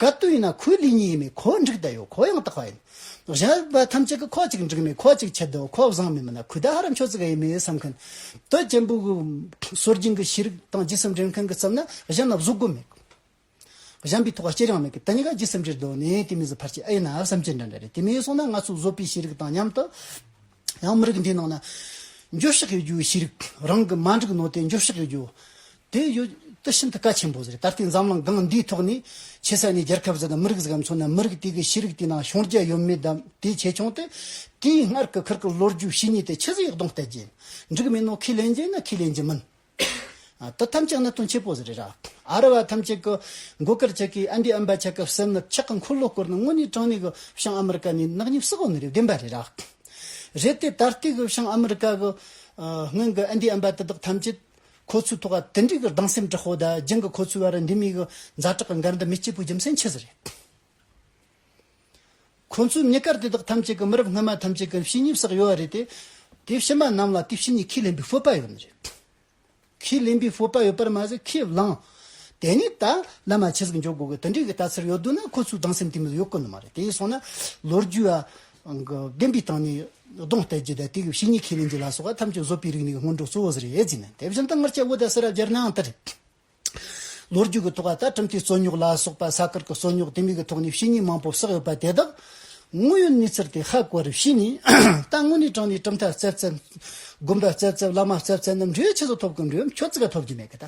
[SPEAKER 1] ག་དུས་ཡིན་ན་ཁོའི་ལུས་ཉིད་ཡིན་མིན་ཁོ་བོ་འགྲིག་བསྡད་ཡོད་ཁོ་ཡང་དག་པ་ཡིན། གཞན་རིག་པ་ཐམས་ཅད་ཀྱི་ཁོ་གཅིག་འགྲིག་མིན་ཁོ་གཅིག་ཆད་དོ་ཁོ་བཟང་མིན་མིན་ན་ཁུ་དག་ཧ་ར་མཆོག་ཙི་ག་ཡིན་མིན་ཡིན་བསམ་མཁན། དོལ་རྒྱལ་འབུ་གུ། སྲོལ་རྒྱུན་གྱི་ཤེས་རིག་དང་སྦྱི་སེམས་འདྲེན་མཁན་གྱི་བསམ་ན་གཞན་ལ་བཟོད་སྒོ་མེད། གཞན་པའི་ཐོག་སྐྱེལ་ཡང་མེད་ཀི་དེ་གཉིས་ཀ་སྦྱི་སེམས་ཀྱི་སྒོ་ནས་དེ་མི་བཟོད་ཕར་ཆེར་ཨེ་ཡིན་ནམ་བསམ་གྱི་འདྲ་འདྲ་རེད་དེ་མིན་སོང་ན་ང་ཚོ་བཟོད་པའི་ཤེས་རིག་དང་མཉམ་དུ། ཡང་མི་རིགས་འདིའི་ནང་ན། འགྱོད་བཤགས་ཡོད་རྒྱུའི་ཤེས་རིག་རང་གི་མ་འགྲིག་ནོ་དེ་འགྱོད་བཤགས་ཡོད་རྒྱུ། དེ་ཡོད་དེ་ཤིན་ཏུ་གལ་ཆེན་པོ་རེད་ད་ལྟའི་འཛམ་གླིང་སྒང་འདིའི་ཐོག་ནས་ཆེ་ས་ནས་རྒྱལ་ཁབ་ཟེར་ན་མི་རིགས་ཟེར་ག་མཚོན་ན་མི་རིགས་དེ་གི་ཤེས་རིག་དེའི་ནང་ཤོང་རྒྱ་ཡོད་མེད་དམ་དེ་ཆེ་ཆུང་དེ་དེའི་སྔར་གི་ཁར་གི་ལོ་རྒྱུས་བྱས་ཉེས་དེ་ཆེ་ཟེར་ཡག་གདོང་གཏད་རྒྱུ་ཡིན་འགྲིག་མིན་ནོ་ཁས་ལེན་རྒྱུ་ཡིན་ན་ཁས་ལེན་རྒྱུ་མིན། དོ་ཐམས་ཅད་ནི་དོན་ཆེན་པོ་རེད། ཨ་རི་བ་ཐམས་ཅད་ཀྱི་མགོ་སྐོར་བྱེད་མཁན་ཨན་ཏི་ཨམ་པ་ཆག་གི་སེམས་ནི་ཆག་གི་འཁོར་ལོ་བསྐོར་ནས་དངོས་གནས་དྲང་གནས་ཀྱི་བྱང་ཨ་མི་རི་ཀ་ནས་ནག་ཉེས་བསུ་བ་ནི་རེ་བདེན་པ་རེད། རེད་དེ། ད་ལྟའི་གི་བྱང་ཨ་མི་རི་ཀ་གི་སྔོན་གྱི་ཨན་ཏི་ཨམ་པ་དེ་དག་ཐམས་ཅད་ཁོ་ཚོའི་ཐོག་དེ་འདྲའི་གི་སྡང་སེམས་དྲག་པོ་དང་རྒྱང་གི་ཁོ་ཚོའི་བར་འདི་མིའི་གི་མཛའ་གྲགས་གི་འགལ་ཟླ་མི་སྐྱིད་པོ་རྒྱུ་མཚན་ཆི་ཟིག་རེད། ཁོ་ཚོས་གནས་སྐབས་དེ་དག་ཐམས་ཅད་ཀྱི་མི་རབས་སྔོན་མ་ཐམས་ཅད་ཀྱི་ཕྱི་ཉིན་བསགས་ཡོད་བ་རེད་དེ། དེ་ཕྱི་མ་རྣམས་ལ་དེ་ཕྱི་ཉིན་ཁས་ལེན་པའི་སྤོབས་པ་ཡོད་མི་རེད། ཁས་ལེན་པའི་སྤོབས་པ་ཡོད་པར་མ་ཟད་ཁས་བླངས། དེ་ནས་ད་ལམ་མ་ཕྱི་ཟིག་འཇོག་དགོས་གི་དེ་འདྲའི་གི་ལྟ་ཚུལ་ཡོད་འདུག་ན་ཁོ་ཚོའི་སྡང་སེམས་དེ་མི་ལ་ཡོད་གི་ནི་མ་རེད་དེ་སོང་ན་ལོ་རྒྱུས་ཨ། གི་བདེན་པའི་སྟེང་ནས་གདོང་གཏད་རྒྱུ་དང་དེ་གི་ཕྱི་ཉིན་ཁས་ལེན་རྒྱུ་ལ་སོགས་པ་ཐམས་ཅད་བཟོ་པའི་རིག་གནས་ཀྱི་སྔོན་འགྲོ་གཙོ་བོ་ཟེར་ཡས་ཟིན་ན་དེ་བཞིན་དུ་སྔར་ཆད་འོ་དང་སེ་ར་སྦྱར་ནའང་དེ་རེད། ལོ་རྒྱུས་ཀྱི་ཐོག་ལྟར་ཁྲིམས་མཐུན་རྩོད་རྙོག་ལ་སོགས་པ་ས་ཁུལ་གྱི་རྩོད་རྙོག་དེ་མིན་གྱི་ཐོག་ནས་བཤེས་གཉེན་མང་པོ་བསགས་ཡོད་པ་དེ་དག་དངོས་ཡོད་གནས་ཚུལ་དེ་ཧ་གོ་རུ་བྱས་ནས་ད་དངོས་གནས་དྲང་ནས་གྲུབ་མཐའ་བཙལ་བཙལ། དགོན་པ་བཙལ་བཙལ་བླ་མ་བཙལ་བཙལ་ནམ་འབྲས་ཆུ་ས་ཐོབ་གི་འགྲོས་མཆོད་རྩིས་ཀ་ཐོབ་ཀྱི་མེད་གི་ད།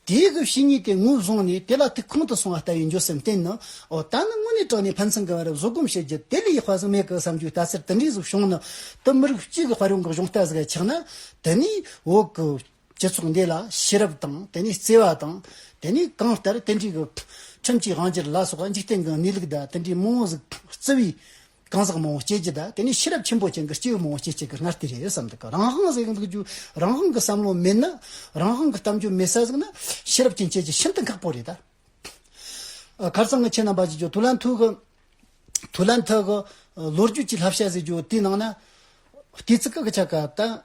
[SPEAKER 1] དེའི་གི་བཤེས་གཉེན་དེ་ངོས་བཟུང་ནས་དེ་ལ་ཐུགས་ཁོང་དུ་སོང་བ་ལྟ་བུའི་འགྱོད་སེམས་བརྟེན་ནོ། འོ་ད་ནི་དངོས་གནས་དྲང་ནས་ཕན་ཚུན་གྱི་བར་བཟོད་སྒོམ་བྱེད་རྒྱུ་དེ་ལས་ཧ་ཟིག་མེད་གི་བསམ་རྒྱུ་ད་ཚེར་དེ་འདྲའི་གཟུགས་བྱུང་ནི་དུ་མི་རིགས་གཅིག་གི་དཔལ་ཡོན་གྱི་གཞུང་རྟ་ཟིག་ཆགས་ན་དེ་ནས་འོ་གི། སྤྱི་ཚོགས་འདི་ལ་ཤེས་རབ་དང་དེ་ནས་བརྩེ་བ་དང་དེ་ནས་གང་ལྟར་དེ་འདྲའི་ཁྲིམས་ཀྱི་དབང་གྱེར་ལ་སོགས་འཇིག་རྟེན་གྱི་གནས་ལུགས་དང་དེ་འདྲའི་རྨོངས་བརྩེ་བའི་གང་ཟག་མང་བོ་སྐྱེས་ཀྱི་དང་དེ་ནས་ཤེས་རབ་ཆེན་པོ་ཅན་གྱི་སྐྱེས་བུ་མང་བོ་སྐྱེས་ཀྱི་སྔར་དེ་རེད་བསམ་འདུག་ག་རང་དབང་ཟེར་འདུག་རྒྱུ་རང་དབང་གི་བསམ་བློ་མེད་ན་རང་དབང་གི་གཏམ་རྒྱུད་མེད་ས་ཟིག་ན་ཤེས་རབ་ཅན་སྐྱེས་ཀྱི་ཤིན་ཏུ་ཁག་པོ་རེད་ད། ཁར་སང་གི་ཁྱེད་རྣམ་པ་ཀྱི་རྒྱུ་དུ་ལན་ཐུག་དུ་ལན་ཐུག་གི་ལོ་རྒྱུས་ཀྱི་ལྷ་བཤད་ཟེར་རྒྱུ་དེའི་ནང་ན་ལྟོས་ཚིག་ག་གི་ཆ་ག་དང།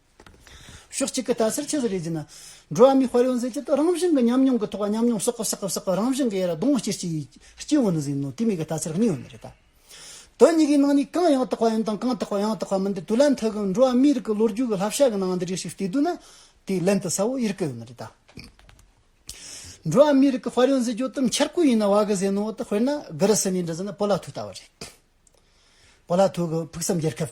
[SPEAKER 1] ཕྱོགས་གཅིག་གི་ལྟ་སར་ཆུ་ཟ་རེ་བརྫིས་ན། འགྲོ་བ་མིའི་དཔལ་ཡོན་ཟད་ཀྱི་དུས་རང་བཞིན་གྱི་ཉམས་མྱོང་གི་ཐོག་ཉམས་མྱོང་བསགས་བསགས་བསགས་བསགས་རང་བཞིན་གྱི་ཡར་ལྡོང་སྐྱེ་སྐྱེ་ཡི་སྐྱེ་བོ་ནི་ཟིན་ནོ་དེ་མིན་གྱི་ལྟ་སར་གནས་ཡོད་མེད་རེ་ད་དོན་གཉིས་ཀའི་ནང་ནས་གང་ཡང་དག་པ་ཡིན་དང་གང་དག་པ་ཡང་དག་པ་མིན་འདི་དུས་ལན་ཐུག་གམ་འགྲོ་བ་མིའི་རིགས་ཀྱི་ལོ་རྒྱུས་ཀྱི་བསླབ་བྱ་གི་ནང་འདི་རིགས་ཤིག་བལྟས་དུས་ན་དེ་ལན་དུ་ས་བོ་ཡིར་སྐད་ཡོད་རེ་ད། འགྲོ་བ་མིའི་རིགས་ཀྱི་དཔལ་ཡོན་ཟད་རྒྱུ་དང་འཆར་ཁུལ་ཡིན་ན་བ་གི་ཟས་ནོར་བ་དང་དཔེར་ན་སྒི་རི་སི་ནས་འབྲི་ཟིན་ན་བོ་ལ་ཐུག་ལྟ་བ་རེད། བོ་ལ་ཐུག་གི་ཕུགས་བསམ་རྒྱལ་ཁབ།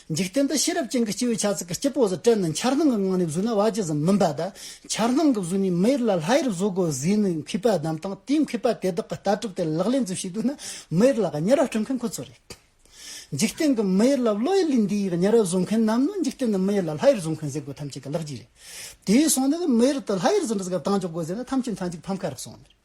[SPEAKER 1] འཇིག་རྟེན་འདི་ཤེས་རབ་ཅན་གྱི་སྤྱི་བོའི་ཆ་ཚིག་གི་སྐྱི་པོ་ཟུར་བཀྲལ་ནི་འཆར་སྣང་གི་ངང་ནས་བཟོས་ན་བ་ཇི་ཙམ་མི་འབའ་ད། འཆར་སྣང་གི་བཟོས་ནས་མི་ཡུལ་ལ་ལྷ་ཡུལ་བཟོ་དགོས་ཟེར་ནས་མཁས་པ་བདམས་དང་དེས་མཁས་པ་དེ་དག་གི་ལྟ་གྲུབ་དེ་ལག་ལེན་འཛུགས་ཤེས་དགོས་ན་མི་ཡུལ་ལ་གཉེར་བ་སྤྲོད་མཁན་ཁོ་ཚོ་རེད། འཇིག་རྟེན་གྱི་མི་ཡུལ་ལ་བློ་ཡུལ་ལས་འདས་ཡི་གཉེར་བ་བཟོ་མཁན་རྣམས་ནི་འཇིག་རྟེན་ནི་མི་ཡུལ་ལ་ལྷ་ཡུལ་བཟོ་མཁན་ཟེར་དགོས་ཐམས་ཅད་ཀྱི་ལག་རྗེས་རེད། དེའི་སོང་ནས་མི་ཡུལ་དུ་ལྷ་ཡུལ་བཟོ་འདྲི་ཟེར་ག་གང་འཇོག་དགོས་ཟེར་ན་ཐམས་ཅད་མཐའ་འཇུག་ཕམ་ཁ་རག་སོང་ནི་རེད།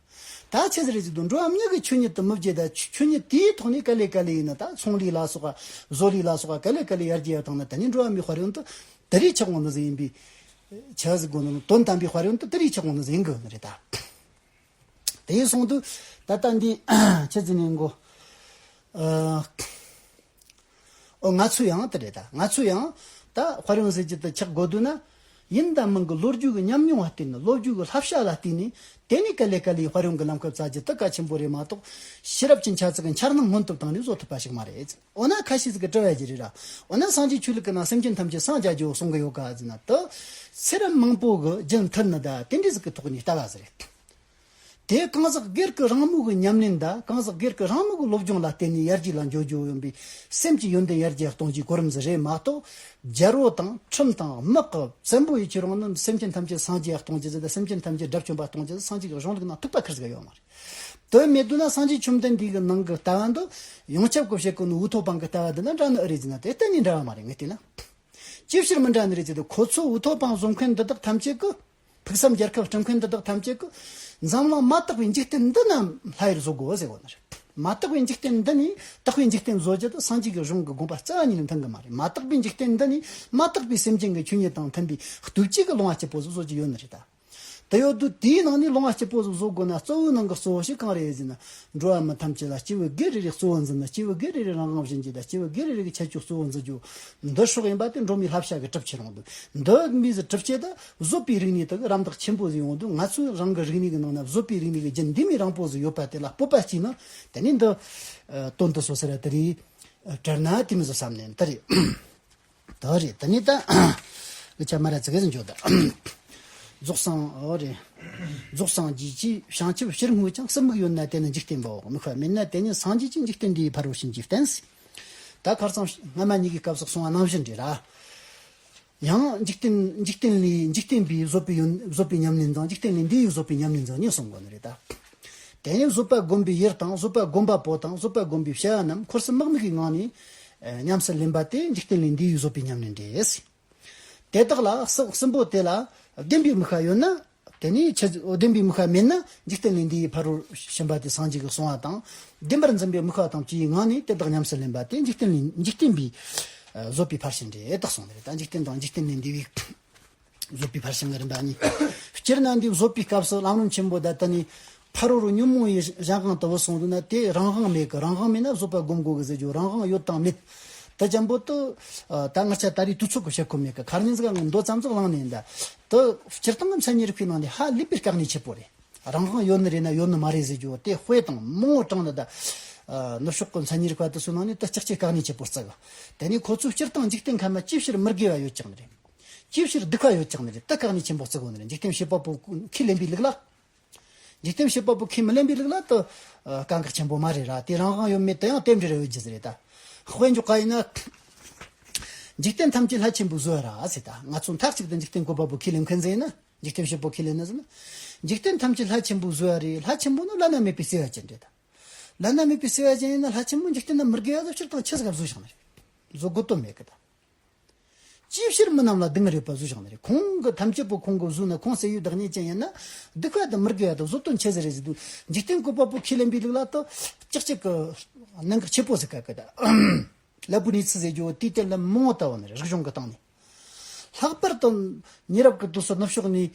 [SPEAKER 1] ད་ཆེ་ཟེར་གྱི་དུད་འགྲོ་འམ་མྱིག་གི་ཆོས་ཉིད་དུ་མི་བརྗེད་ད་ཆོས་ཉིད་དེའི་ཐོག་ནས་ག་ལེ་ག་ལེ་ཡིན་ན་ད་ཚོང་ལས་ལ་སོགས་བཟོ་ལས་ལ་སོགས་ག་ལེ་ག་ལེ་ཡར་རྒྱས་ཡར་ཐང་ན་ད་ནི་འགྲོ་བ་མིའི་དཔར་ཡོན་དུ་དེ་རིགས་ཆགས་གོང་དུ་ཟིན་ཡིན་པས་ཆགས་ཟིན་གོང་དུ་དོན་དམ་པའི་དཔར་ཡོན་དུ་དེ་རིགས་ཆགས་གོང་དུ་ཟིན་དགོས་ཡོད་ནི་རེད་ད། དེའི་གསུང་དུ་ད་ལྟ་འདི་ཁྱེད་ཀྱི་ནས་མགོ། ཨོ་ང་ཚོས་ཡང་དེ་རེད་ད། ང་ཚོས་ཡང། ད་དཔར་ཡོང་ཟེར་གྱི་དུ་ཆགས་དགོས་འདུག་ན། ཡིན་ད་མིན་གྱི་ལོ་རྒྱུས་ཀྱི་ཉམས་མྱོང་བ་ལྟོས་ནས་བློ་རྒྱུས་ཀྱི་ལྷབ་བཤགས་ལ་བརྟེན་ནས་དེ་ནས་ག་ལེ་ག་ལེའི་དཔར་ཡོང་གི་ལམ་ཁབ་བཙལ་གྱི་དུ་ག་ཆེན་པོ་རེད་མ་གཏོགས། ཤེས་རབ་ཀྱི་འཆར་ཚུལ་གྱི་འཆར་སྣང་སྔོན་དུ་བཏང་ནས་བཟོ་ཐུབ་པ་ཞིག་མ་རེད། འོ་ན་ཁ་ཤས་ཀྱིས་དྲི་བ་ཞིག་རེད། འོ་ན་སངས་རྒྱས་ཆོས་ལུགས་ཀྱི་ནང་སེམས་ཅན་ཐམས་ཅད་སངས་རྒྱ་རྒྱལ་བོ་གསུང་གི་ཡོད་ག། དེ། ཚེ་རབས་མང་པོ་གྱི་རྒྱུན་མཐུད་ནས་ད་དེ་འདྲའི་ཟིག་གི་ཐོག་ནས་ལྟ་བ་ཟེར། དེས་གང་ཟག་སྒེར་གྱི་རང་མོས་ཀྱི་ཉམས་ལེན་དང་གང་ཟག་སྒེར་གྱི་རང་མོས་ཀྱི་སློབ་སྦྱོང་ལ་བརྟེན་ནས་ཡར་རྒྱས་ལ་འཇོག་རྒྱུ་ཡིན་པས་སེམས་ཀྱི་ཡོན་ཏན་ཡར་རྒྱས་གཏོང་རྒྱུའི་གོ་རིམ་འདི་རེད་མ་གཏོགས། རྒྱལ་པོ་དང་ཁྲིམས་དང་དམག་གི་བཙན་པོ་ཡི་ཁྱེད་རང་ནི་སེམས་ཅན་ཐམས་ཅད་སངས་རྒྱས་གཏོང་རྒྱུ་དང་སེམས་ཅན་ཐམས་ཅད་དགྲ་བཅོམ་པ་གཏོང་རྒྱུ་དེ་སངས་རྒྱས་ཀྱི་གཞུང་ལུགས་ནང་ཐུག་པ་ཁེར་ཟིག་ཡོད་མ་རེད། དོན་མེད་དུ་ན་སངས་རྒྱས་བཅོམ་ལྡན་འདས་ཀྱི་ནང་གི་ལྟ་བ་འདི། ཡོངས་ཁྱབ་ཀྱི་བཤད་ཀྱི་ནི་འུ་ཐོག་པང་གི་ལྟ་བ་འདི་དང་འདྲ་ནི་ཨེ་རེད་ཅེ་ན་དེ་གཏན་ནས་འདྲ་བ་མ་རེད་ངས་བལྟས་ན། ཅིའི་ཕྱིར་མི་འདྲ་ནི་རེད་ཅེ་ན་ཁོ་ཚོས་འུ་ཐོག་པང་བཟོ་མཁན་འདི་དག་ཐམས་ཅད་ཀྱིས། ཕུགས་བསམ་རྒྱལ་ཁབ་སྐྲུན་མཁན་འདི་དག་ཐམས་ཅད་ཀྱི་འཛམ་གླིང་མ་དག་པའི་འཇིག་རྟེན་འདི་རྣམས་ལྷ་ཡིར་བཟོ་དགོས་ཟེར་བ་ནི་རེད། མ་དག་པའི་འཇིག་རྟེན་འདི་ནི་དག་པའི་འཇིག་རྟེན་བཟོ་རྒྱུ་དེ་སངས་རྒྱས་ཀྱི་གཞུང་གི་དགོངས་པ་རྩ་བ་ཉིད་ལས་མཐུན་གི་མ་རེད་མ་དག་པའི་འཇིག་རྟེན་འདི་ནི་མ་དག་པའི་སེམས་ཅན་གྱི་ཆོས་ཉིད་དང་མཐུན་པའི་བདུད་བསྐྱེད་ཀྱི་སློང་བ་སྐྱིད་པོ་ཟིག་བཟོ་རྒྱུ་ཡོད་ནི་རེད། དེ་ཡོད་དུས་དེའི་ནང་ནས་སློང་བ་སྐྱིད་པོ་ཟིག་བཟོ་དགོས་ན་གཙོ་བོའི་ནང་གི་གཙོ་བོ་ཞིག་གང་རེད་ཟེར་ན། འགྲོ་བ་མི་ཐམས་ཅད་ལ་སྐྱེས་བུ་སྒེར་རེ་རེས་གཙོ་བོ་འཛིན་ན་སྐྱེས་བུ་སྒེར་རེ་རེས་རང་དབང་བཞིན་བྱས་ད་སྐྱེས་བུ་སྒེར་རེ་རེ་གི་ཁྱད་ཆོས་གཙོ་བོ་འཛིན་རྒྱུ། འདི་ཕྱོགས་ཡིན་པ་དེ་འགྲོ་མིའི་ལྷ་བཤའ་གི་གྲུབ་ཆའི་རང་དོན། འདི་མིས་གྲུབ་བྱས་ད། བཟོ་པའི་རིག་གནས་དག་རམ་འདེགས་ཆེན་པོ་བཟོས་ཡོང་དུས་ང་ཚོས་རང་གི་རིག་གནས་ཀྱི་ནང་ན་བཟོ་པའི་རིག་གནས་ཀྱི་རྒྱུན་ལྡན་མིན་རང་པོ་ཟིག་ཡོད་པ་དེ་ལ་སྤོབས་པ་སྐྱེས་ན་དེ་ནས་འདི་དོན་དུ་བཟོ་ཟེར་བ་དེ་རེད། དྲན་ན་དེ་མི་བཟོ་བསམ་ནས་འདི་རེད། དེ་རེད་དེ་ནས་ད་ལི་ཆ་མ་ར་ཙི་ག་ཟིག་འཇོག་དང། རྫོགས་སངས་འོ་རེད། རྫོགས་སངས་རྒྱས་ཀྱི་བྱང་ཆུབ་ཕྱིར་བསྔོས་ཀྱང་སྲིན་མིག་ཡོད་ན་དེ་ནི་འཇིག་རྟེན་པའོ་མིག་བར་མེད་ན་དེ་ནི་སངས་རྒྱས་ཀྱི་འཇིག་རྟེན་འདིའི་ཕ་རོལ་ཕྱིན་གྱི་རྟེན་ཟིག། ད་གར་ཚང་སྔ་མ་གཉིས་ཀྱི་སྐབས་སུ་སོང་བ་རྣམ་བཞི་འདྲེས་ལ། ཡང་འཇིག་རྟེན་འཇིག་རྟེན་ལས་འཇིག་རྟེན་པའི་བཟོད་པའི་ཡོན་བཟོད་པའི་ཉམས་ལེན་དང་འཇིག་རྟེན་ལས་འདི་ཡི་བཟོད་པའི་ཉམས་ལེན་ཚང་གཉིས་གསུངས་པ་ནི་རེད་ད། དེ་ནས་བཟོད་པ་བསྒོམ་པའི་ཡུལ་དང་བཟོད་པ་བསྒོམ་པ་པོ་དང་བཟོད་པ་བསྒོམ་པའི་བྱ་བ་རྣམས་འཁོར་སེམས་དམག་མིག་གི་ངང་ནས་ཉམས་སུ་ལེན་པ་སྟེ་འཇིག་རྟེན་ལས་འདི་ཡི་བཟོད་པའི་ཉམས་ལེན་འདྲེས། དེ་དག་ལ་སྲིན་པོ་དེ་ལ་བདེན་པའི་མི་ཤ་ཡོད་ན། དེ་ནས་ཆོས་བདེན་པའི་མི་ཁ་མེད་ན་འཇིག་རྟེན་ལས་འདས་ཡའི་ཕ་རོལ་ཕྱིན་པ་དེ་སངས་རྒྱས་ཀྱི་གསུང་བ་དང་བདེན་པར་འཛིན་པའི་མི་ཁ་དང་བཅུའི་ངང་ནས་དེ་དག་ཉམས་སུ་ལེན་པ་དེ་འཇིག་རྟེན་ལས་འཇིག་རྟེན་པའི་བཟོད་པའི་ཕར་ཕྱིན་རེད་དེ་གསུངས་པ་རེད་ད་འཇིག་རྟེན་དང་འཇིག་རྟེན་ལས་འདས་པའི་བཟོད་པའི་ཕར་ཕྱིན་གྱི་རིམ་པ་གཉིས་སྤྱིར་ན་འདིའི་བཟོད་པའི་སྐབས་སུ་ལམ་རིམ་ཆེན་པོ་དག་དེ་ནས་ཕ་རོལ་རོ་ཉོན་མོངས་ཡི་གཞན་གང་དུ་བུ་སོང་འདུག་ན་དེས་རང་དབང་མེད་ཀི་རང་དབང་མེད་ན་བཟོད་པར་བསྒོམ་དགོས་ཀི་ཟེར་རྒྱུ་རང་དབང་ཡོད་དང་མེད་དེ་ལྗང་པོ་དུ། ད་སྔར་ཆ་ད་རེས་དུས་ཚོད་ཀི་བྱེད་ཁོ་མེད་ཀི་གར་གཉན་ཟིག་ལ་ངས་མདོ་ཙམ་ཙུག་བླངས་ནས་འདི། དུ། སྤྱིར་བཏང་གི་མཚན་ཉིད་རིག་པའི་ནང་ནས་ཧ་ལས་པའི་སྐྲག་ནས་ཆེ་པོ་རེད། རང་དབང་ཡོད་ནི་རེད་ན་ཡོད་ནི་མ་རེད་ཟེར་རྒྱུ་དེ་དཔེ་དང་རྨོངས་བོ་དྲངས་ནས་འདི། ནུབ་ཕྱོགས་ཀི་མཚན་ཉིད་རིག་པ་དེ་ཚོའི་ནང་ནས་དུ་སྐྱག་ཆེ་སྐྲག་ནས་ཆེ་པོ་བརྩི་གི། དེ་ནས་ཁོ་ཚོས་སྤྱིར་བཏང་འཇིག་རྟེན་ཁམས་ན་ཅི་ཕྱིར་མི་དགེ་བ་ཡོད་ཀྱང་ནི་རེད། ཅི་ཕྱིར་སྡིག་པ་ཡོད་ཀྱང་ནི་རེད་དུ་སྐྲག་ནས་ཆེན་པོ་བརྩི་དགོས་ནི་རེད་འཇིག་རྟེན་བྱེད་པ་པོ་ཁས་ལེན་པའི་ལུགས་ལ། འཇིག་རྟེན་ཞེས་པ་པོ་ཁས་མི་ལེན་པའི་རིགས་ལ་དུ། དཀའ་འགགས་ཆེན་པོ་མ་རེད་ར་དེ་རང་དབང་ཡོད་མེད་དུ་ཡང་རྟེན་འབྲེལ་ཡོད་རྒྱུ་རེད་ད། དཔེ་འཇོག་ག་ཡིན་ན། འཇིག་རྟེན་ཐམས་ཅད་ལྷ་ཆེན་པོའི་གཟུ་བོ་ར་ཟེར་ད་ང་ཚོ་མཐའ་གཅིག་ཏུ་འཇིག་རྟེན་གོ་པ་པོ་ཁས་ལེན་མཁན་ཟེར་ན། འཇིག་རྟེན་ཞེས་པོ་ཁས་ལེན་ན་ཟེར་ན། འཇིག་རྟེན་ཐམས་ཅད་ལྷ་ཆེན་པོའི་གཟུ་བོ་རེད་ལྷ་ཆེན་པོ་ནི་བླ་ན་མེད་པའི་བརྩེ་བ་ཅན་རེད་ད། བླ་ན་མེད་པའི་བརྩེ་བ་ཅན་ཡིན་ན་ལྷ་ཆེན་པོ་འཇིག་རྟེན་ན་མི་དགེ་བ་ལ་ཕྱིར་དང་ཕྱི་ཟ་ག་བཟོ་བཞག་ན་རེད། བཟོ་དགོས་དོན་མེད་གི་ད། ཅིའི་ཕྱིར་མི་རྣམས་ལ་སྡུག་བསྔལ་ཡོད་པར་གཟུགས་བྱུང་བ་རེད། ཁོང་གི་ཐམས་ཅད་པོ་ཁོང་གི་གཟུགས་ནི་ཁོང་སད་ཡུལ་བདག་ཉིད་ཅན་ཡིན་ན། སྡུག་བསྔལ་དང་མི་དགེ་བ་དང་བཟོ་བསྟོད་འཆལ་ཟེར་རེ་ཟིག་འདུག་འཇིག་རྟེན་ཀུན་པ་པོ་ཁས་ལེན་པའི་ལུགས་ལ་དོ། ཅིག་ཅིག་གི། གནད་འགག་ཆེ་པོ་ཟེར་དཀའ་གི། ལ་བུ་ནི་ཚི་ཟེར་རྒྱུ་བོ་དེའི་དོན་ལ་མི་ངོ་ལྟ་བ་ནི་རིག་གཞུང་གི་སྟེང་ནས། ལྷག་པར་དུ། ཉེ་རབས་ཀྱི་དུས་སུ་ནུབ་ཕྱོགས་ནས།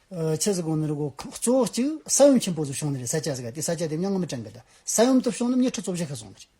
[SPEAKER 1] འཆལ་ཟེར་དགོངས་ནི་རིག་གོ། གཙོ་བོ་གཅིག་ས་ཡོམ་ཆེན་པོ་ཟིག་བྱུང་ནི་རེད་ས་སྐྱ་ཟེར་ག་དེ་ས་སྐྱ་དེ་མྱང་ང་མི་གྲངས་གི། ས་ཡོམ་དུ་བྱུང་ནི་མྱི་ཁྲི་བཅོ་བཞི་ཁ་སོང་ནི་རེད།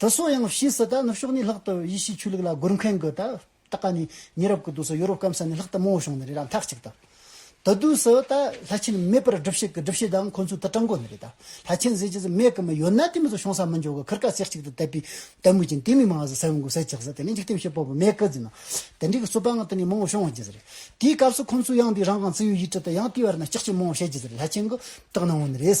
[SPEAKER 1] དེ་སོགས་ཡང་ཤེས་སྲིད་ད་ནུབ་ཕྱོགས་ནས་ལྷག་ཏུ་ཡེ་ཤེས་ཆོས་ལུགས་ལ་རྒོལ་མཁན་གྱི་ད་ལྟ་ཀ་ནི་ཉེ་རབས་ཀྱི་དུས་སུ་ཡོ་རོབ་སྐམ་ས་ནས་ལྷག་ཏུ་མང་བོ་བྱུང་ནི་རེད་ད་མཐའ་གཅིག་ཏུ་དེ་དུས་སུ་ད་ལྷ་ཆེན་མེད་པར་སྒྲུབ་བྱེད་ཀྱི་སྒྲུབ་བྱེད་དང་ཁོང་ཚོའི་དུ་སྤྲང་འགོ་ནི་རེད་ད་ལྷ་ཆེན་ཟེར་གྱི་ཟིག་མེད་གི་མི་ཡོད་ན་དེ་མི་ཚོ་བྱུང་ས་མི་འཇོག་གི་ཁུར་ཁ་ཚེགས་གཅིག་ཏུ་བཏབ་པའི་དད་མོས་ཀྱིན་དེ་མི་མང་ཟིག་ཟེར་འོང་གི་ཟེར་གྱི་ཟིག་དེ་ནི་འཇིག་རྟེན་བྱེད་པོ་བོ་མེད་གི་ཟིག་ན་དེ་འདྲའི་གི་རྩོད་པ་ང་དེ་ནས་མང་བོ་བྱུང་གི་ཟིག་རེད་དེའི་སྐབས་སུ་ཁོང་ཚོས་ཡང་དེའི་རང་གང་ཙི་ཡོད་ཡིད་ཁྲི་དེ་ཡང་དེའི་བར་ན་ལྕགས་ཀྱི་མང་བོ་བྱེད་ཀྱི་ཟིག་རེད་ལྷ་ཆེན་གྱི་དྲག་སྣང་བོ་ནི་རེད་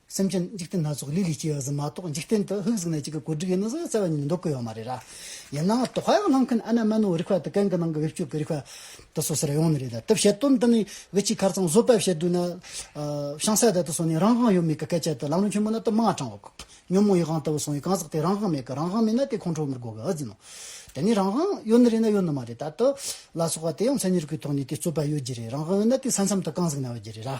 [SPEAKER 1] སེམས་ཅན་འཇིག་རྟེན་སྣ་ཚོགས་ལི་ལི་སྐྱེ་བ་ཟིན་མ་གཏོགས་འཇིག་རྟེན་དུ་ཧུག་གཟུགས་སྣ་གཅིག་གི་གོ་སྒྲིག་ཡིན་ནོ་ཟེར་བ་རྩ་བ་ཉིད་མི་འདུག་གི་ཡོད་མ་རེད་ར། ཡིན་ནའང་དོ་ཧ་ཡག་གནང་མཁན་ཨ་ན་མན་ཨོའི་རིག་པ་དང་གན་གི་ནང་གི་བེད་སྤྱོད་ཀྱི་རིག་པ་དེ་ཚོ་ཟེར་ཡོང་ནི་རེད་ད་དེ་བཤད་དོན་དེ་ནི་བེད་སྤྱི་ཁར་ཚང་བཟོ་པས་བཤད་དུས་ན་བྱང་སེ་དེ་དུ་སོང་ནས་རང་དབང་ཡོད་མེད་ཀྱི་སྐད་ཆ་དེ་ལམ་རིམ་ཆེན་མོ་ན་དུ་མ་དྲང་བ་གོ། ཉོན་མོངས་ཡིད་དབང་དེ་བས་སོང་བའི་གང་ཟག་དེ་རང་དབང་མེད་གི་རང་དབང་མེད་ན་དེ་ཁོང་ཁྲོ་མི་དགོས་གི་ཨ་ཟིན་ནོ། དེ་ནི་རང་དབང་ཡོད་ནི་རེད་ན་ཡོད་ནི་མ་རེད་ད་དུ་ལ་སོགས་པ་དེ་ཡང་མཚན་ཉིད་ཀྱི་ཐོག་ནས་དེ་རྩོད་པ་ཡོད་རྒྱུ་རེད་རང་དབང་ཡོད་ན་དེ་ས་མཚམས་དུ་གང་ཟིག་ན་ཡོད་རྒྱུ་རེད་ར།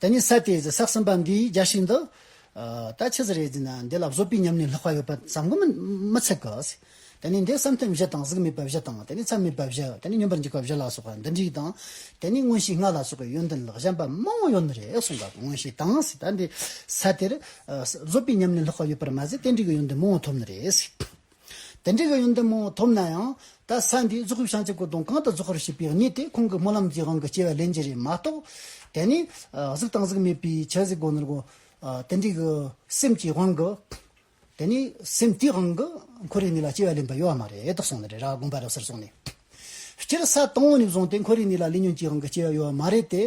[SPEAKER 1] ད་ནི་ས་དེའི་ཟག་ཟིན་པ་འདི་རྒྱག་བཞིན་འདུག། ད་ཆ་ཟ་རེ་རྫིས་ན་འདི་ལ་བཟོ་པའི་ཉམས་ནི་ལྷག་པ་ཡོད་པ་བསམ་གོ་མི་ཚད་གི། ད་ནི་འདི་བསམ་ཐེངས་བཞི་དང་གཟུགས་མེད་པ་བཞི་དང་ད་ནི་ཚ་མེད་པ་བཞི་ད་ནི་སྙོམས་པར་འཇུག་པ་བཞི་ལ་སོགས་པ་འདི་འགྲིག་དང། ད་ནི་མངོན་ཤེས་ལྔ་ལ་སོགས་པའི་ཡོན་ཏན་ལག་བཞམ་པ་མང་བོ་ཡོད་ནི་རེད་གསུངས་པ་དང་མངོན་ཤེས་དང་ཟེར་ད་འདི་ས་དེར་བཟོ་པའི་ཉམས་ནི་ལྷག་པ་ཡོད་པར་མ་ཟད་རྟེན་འབྲེལ་གྱི་ཡོན་ཏན་མང་བོ་ཐོབ་ནི་རེད། དེ་འདྲའི་གཡོན་ཡོན་ཏན་མང་བོ་ཐོབ་ན་ཡང། ད་ས་འདིའི་རྫོགས་རིམ་བྱང་ཆུབ་ཀྱི་དོན་གང་དུ་རྫོགས་རེ་ཞུས་པའི་ཉིད་དེ་ཁོང་གི་སྨོན་ལམ་གྱི་དབང་གི་སྐྱེ་བའི་ལས་འབྱེད་རེད་མ་གཏོགས། དེ་ནི། གཟུགས་དང་གཟུགས་མེད་པའི་ཕྱིར་གཟིགས་དགོངས་ནོར་གོ། དེ་འདྲའི་གི། སེམས་ཀྱི་དབང་གི། དེ་ནི་སེམས་དེའི་དབང་གི། འཁོར་བའི་གནས་ལ་སྐྱེ་བའི་ལས་འབའ་ཡོད་བ་མ་རེད་དོ་གསུངས་ནི་རེ་ར་དགོངས་པ་རབ་གསལ་སོང་ནས། སྤྱིར་ས་དང་བོ་ནས་བཟུང་སྟེ་འཁོར་རིགས་གཉིས་ལ་ལས་ཉོན་གྱི་དབང་གིས་སྐྱེ་བ་ཡོད་པ་མ་རེད་དེ།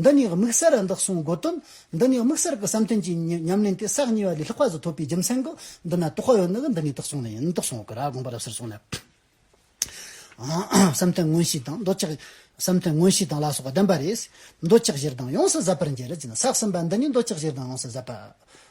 [SPEAKER 1] འདི་ནི་དམིགས་བསལ་ར་འདག་གསུམ་དགོས་དོན། འདི་ནི་དམིགས་བསལ་གྱི་བསམ་དོན་གྱི་ཉམས་ལེན་དེ་ས་གཉིས་པ་ལས་ལྷག་པ་ཟིག་ཐོབ་པའི་རྒྱུ་མཚན་གྱིས་འདི་ན་དོགས་པ་ཡོད་ནི་གི་འདི་ནི་དོགས་སོང་ནི་ཡིན་དོགས་སོང་གི་ར་དགོངས་པ་རབ་གསལ་སོང་ནས། བསམ་དོན་མངོན་ཤེས་དང་འདོད་ཆགས། བསམ་དོན་མངོན་ཤེས་དང་ལ་སོགས་པ་ལྡན་པ་རེད། འདོད་ཆགས་གཞིར་བཟླང་ཡོངས་སུ་ཟབ་པར་འགྱེད་རེ་བྱས་ན་ཟག་ཟིན་པ་འདི་ནི་འདོད་ཆགས་གཞིར་བཟླང་ཡོངས་སུ་ཟབ་པ།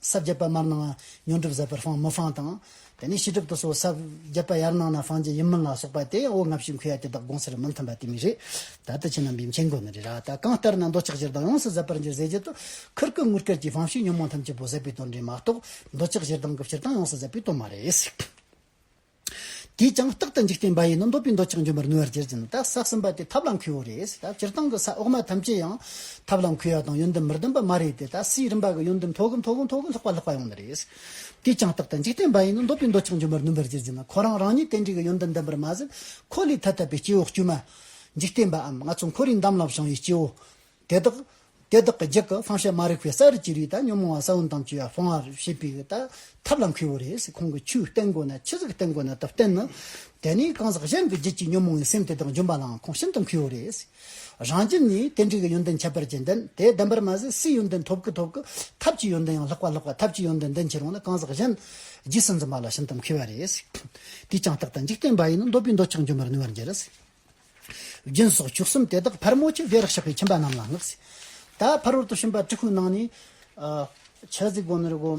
[SPEAKER 1] ས་བརྒྱད་པ་མར་སྣང་བ་ཉོན་སྒྲུབ་ཟད་པར་སྤང་མི་སྤང་དང། དེ་ནས་ཕྱི་སྒྲུབ་ཏུ་སོ་ས་བརྒྱད་པ་ཡར་སྣང་ན་སྤང་རྒྱུ་ཡིན་མིན་ལ་སོགས་པ་སྟེ་འོ་ང་བཞིན་ཁུ་ཡ་དེ་དག་དགོངས་སར་མི་མཐུན་པ་དེ་མི་རིགས། ད་ལྟ་ཕྱི་ནང་བའི་མཁྱེན་དགོས་ནི་རེད་ར་ད་གང་ལྟར་ན་འདོད་ཆགས་ཀྱི་རྡང་ཡོངས་སུ་ཟད་པར་འགྱུར་ཟེར་རྒྱུ་དུ་ཁུར་ཁུར་ངུར་སྐད་ཀྱིས་ཕམ་ཞིང་ཉོན་མོངས་ཐམས་ཅད་པོ་ཟད་པའི་དོན་རེད་མ་གཏོགས་འདོད་ཆགས་ཀྱི་རྡང་གི་ཕྱིར་རྡང་ཡོངས་སུ་ཟད་པའི་དོན་མ་རེད། དེས་ཀྱང་རྟག་ཏུ་འཇིག་རྟེན་པ་ཡིན་ནོ་འདོད་པའི་འདོད་ཆགས་འཇོམས་པར་ནུས་པར་གྱུར་ཅིང་རྟག་བསགས་ཟིན་པ་དེ་ཐབས་ལ་མཁས་བོ་རེད་ཟེར་ད་སྤྱིར་བཏང་གི་ས་འོག་མ་ཐམས་ཅད་ཡང་ཐབས་ལ་མཁས་བ་དང་ཡོན་ཏན་མི་ལྡན་པ་མ་རེད་དེ་ད་སའི་རིམ་པ་གི་ཡོན་ཏན་མཐོ་གི་མཐོ་གི་མཐོ་གི་ལྷག་པ་ལྷག་པ་ཡོང་ནི་རེད། དེས་ཀྱང་རྟག་ཏུ་འཇིག་རྟེན་པ་ཡིན་ནོ་འདོད་པའི་འདོད་ཆགས་འཇོམས་པར་ནུས་པར་གྱུར་ཅིང་ན་ཁོ་རང་རང་ཉིད་དེ་འདྲའི་གི་ཡོན་ཏན་ལྡན་པར་མ་ཟད་ཁོ་ལས་ཐ་དད་པའི་སྐྱེ་བོ་དཀྱུས་མ། འཇིག་རྟེན་པའམ་ང་ཚོ་འཁོར་བའི་འདམ་ལ་བྱང་བའི་སྐྱེ་བོ། དེ་དག་དེ་དག་གི་རྒྱུད་ཀྱི་བསམ་ཤེས་མ་རིག་པའི་ས་རུ་ཅི་རིགས་དང་ཉོན་མོངས་བ་ས་བོན་དང་བཅས་པ་སྤོང་བར་བྱེད་པའི་ལྟ་ཐབས་ལ་འཁེལ་བ་རེད། ཁོང་གིས་ཆུའི་སྟེང་སྒོ་ན་ཆུ་ཟེགས་སྟེང་སྒོ་ན་དུ་བསྟན་ནོ། དེ་ནི་གང་ཟག་གཞན་གྱི་རྒྱུད་ཀྱི་ཉོན་མོངས་བའི་སེམས་དེ་དག་འཇོམས་པ་ལའང་ཁོང་ཤིན་ཏུ་འཁེལ་བ་རེད། རང་རྒྱུད་ནི་དེ་འདྲའི་གི་ཡོན་ཏན་ཁྱད་པར་ཅན་ལྡན་དེ་ལྡན་པར་མ་ཟད་སའི་ཡོན་ཏན་ཐོབ་གི་ཐོབ་གི་ཐབས་ཀྱི་ཡོན་ཏན་ཡང་ལྷག་པ་ལྷག་པ་ཐབས་ཀྱི་ཡོན་ཏན་ལྡན་ཕྱིར་འོང་ན་གང་ཟག་གཞན་རྗེས་སུ་འཛིན་པ་ལ་ཤིན་ཏུ་འཁེལ་བ་རེད། དེས་ཀྱང་རྟག་ཏུ་འཇིག་རྟེན་པ་ཡིན་ན་འདོད་པའི་འདོད་ཆགས་འཇོམས་པར་ནུས་པར་འགྱུར། རྒྱུན་སོགས་བཅུ་གསུམ་དེ་དག་ཕར་མོ་ཆེ་བེ་རག་ཞགས་པའི་ཁྱིམ་པ་རྣམས་ལ་བསྔགས། ད་ཕར་རོལ་དུ་ཕྱིན་པ་ཀྲི་ཁུའི་ནང་ནས། ཆ་གཟིགས་དགོན་ནི་རི་བོ་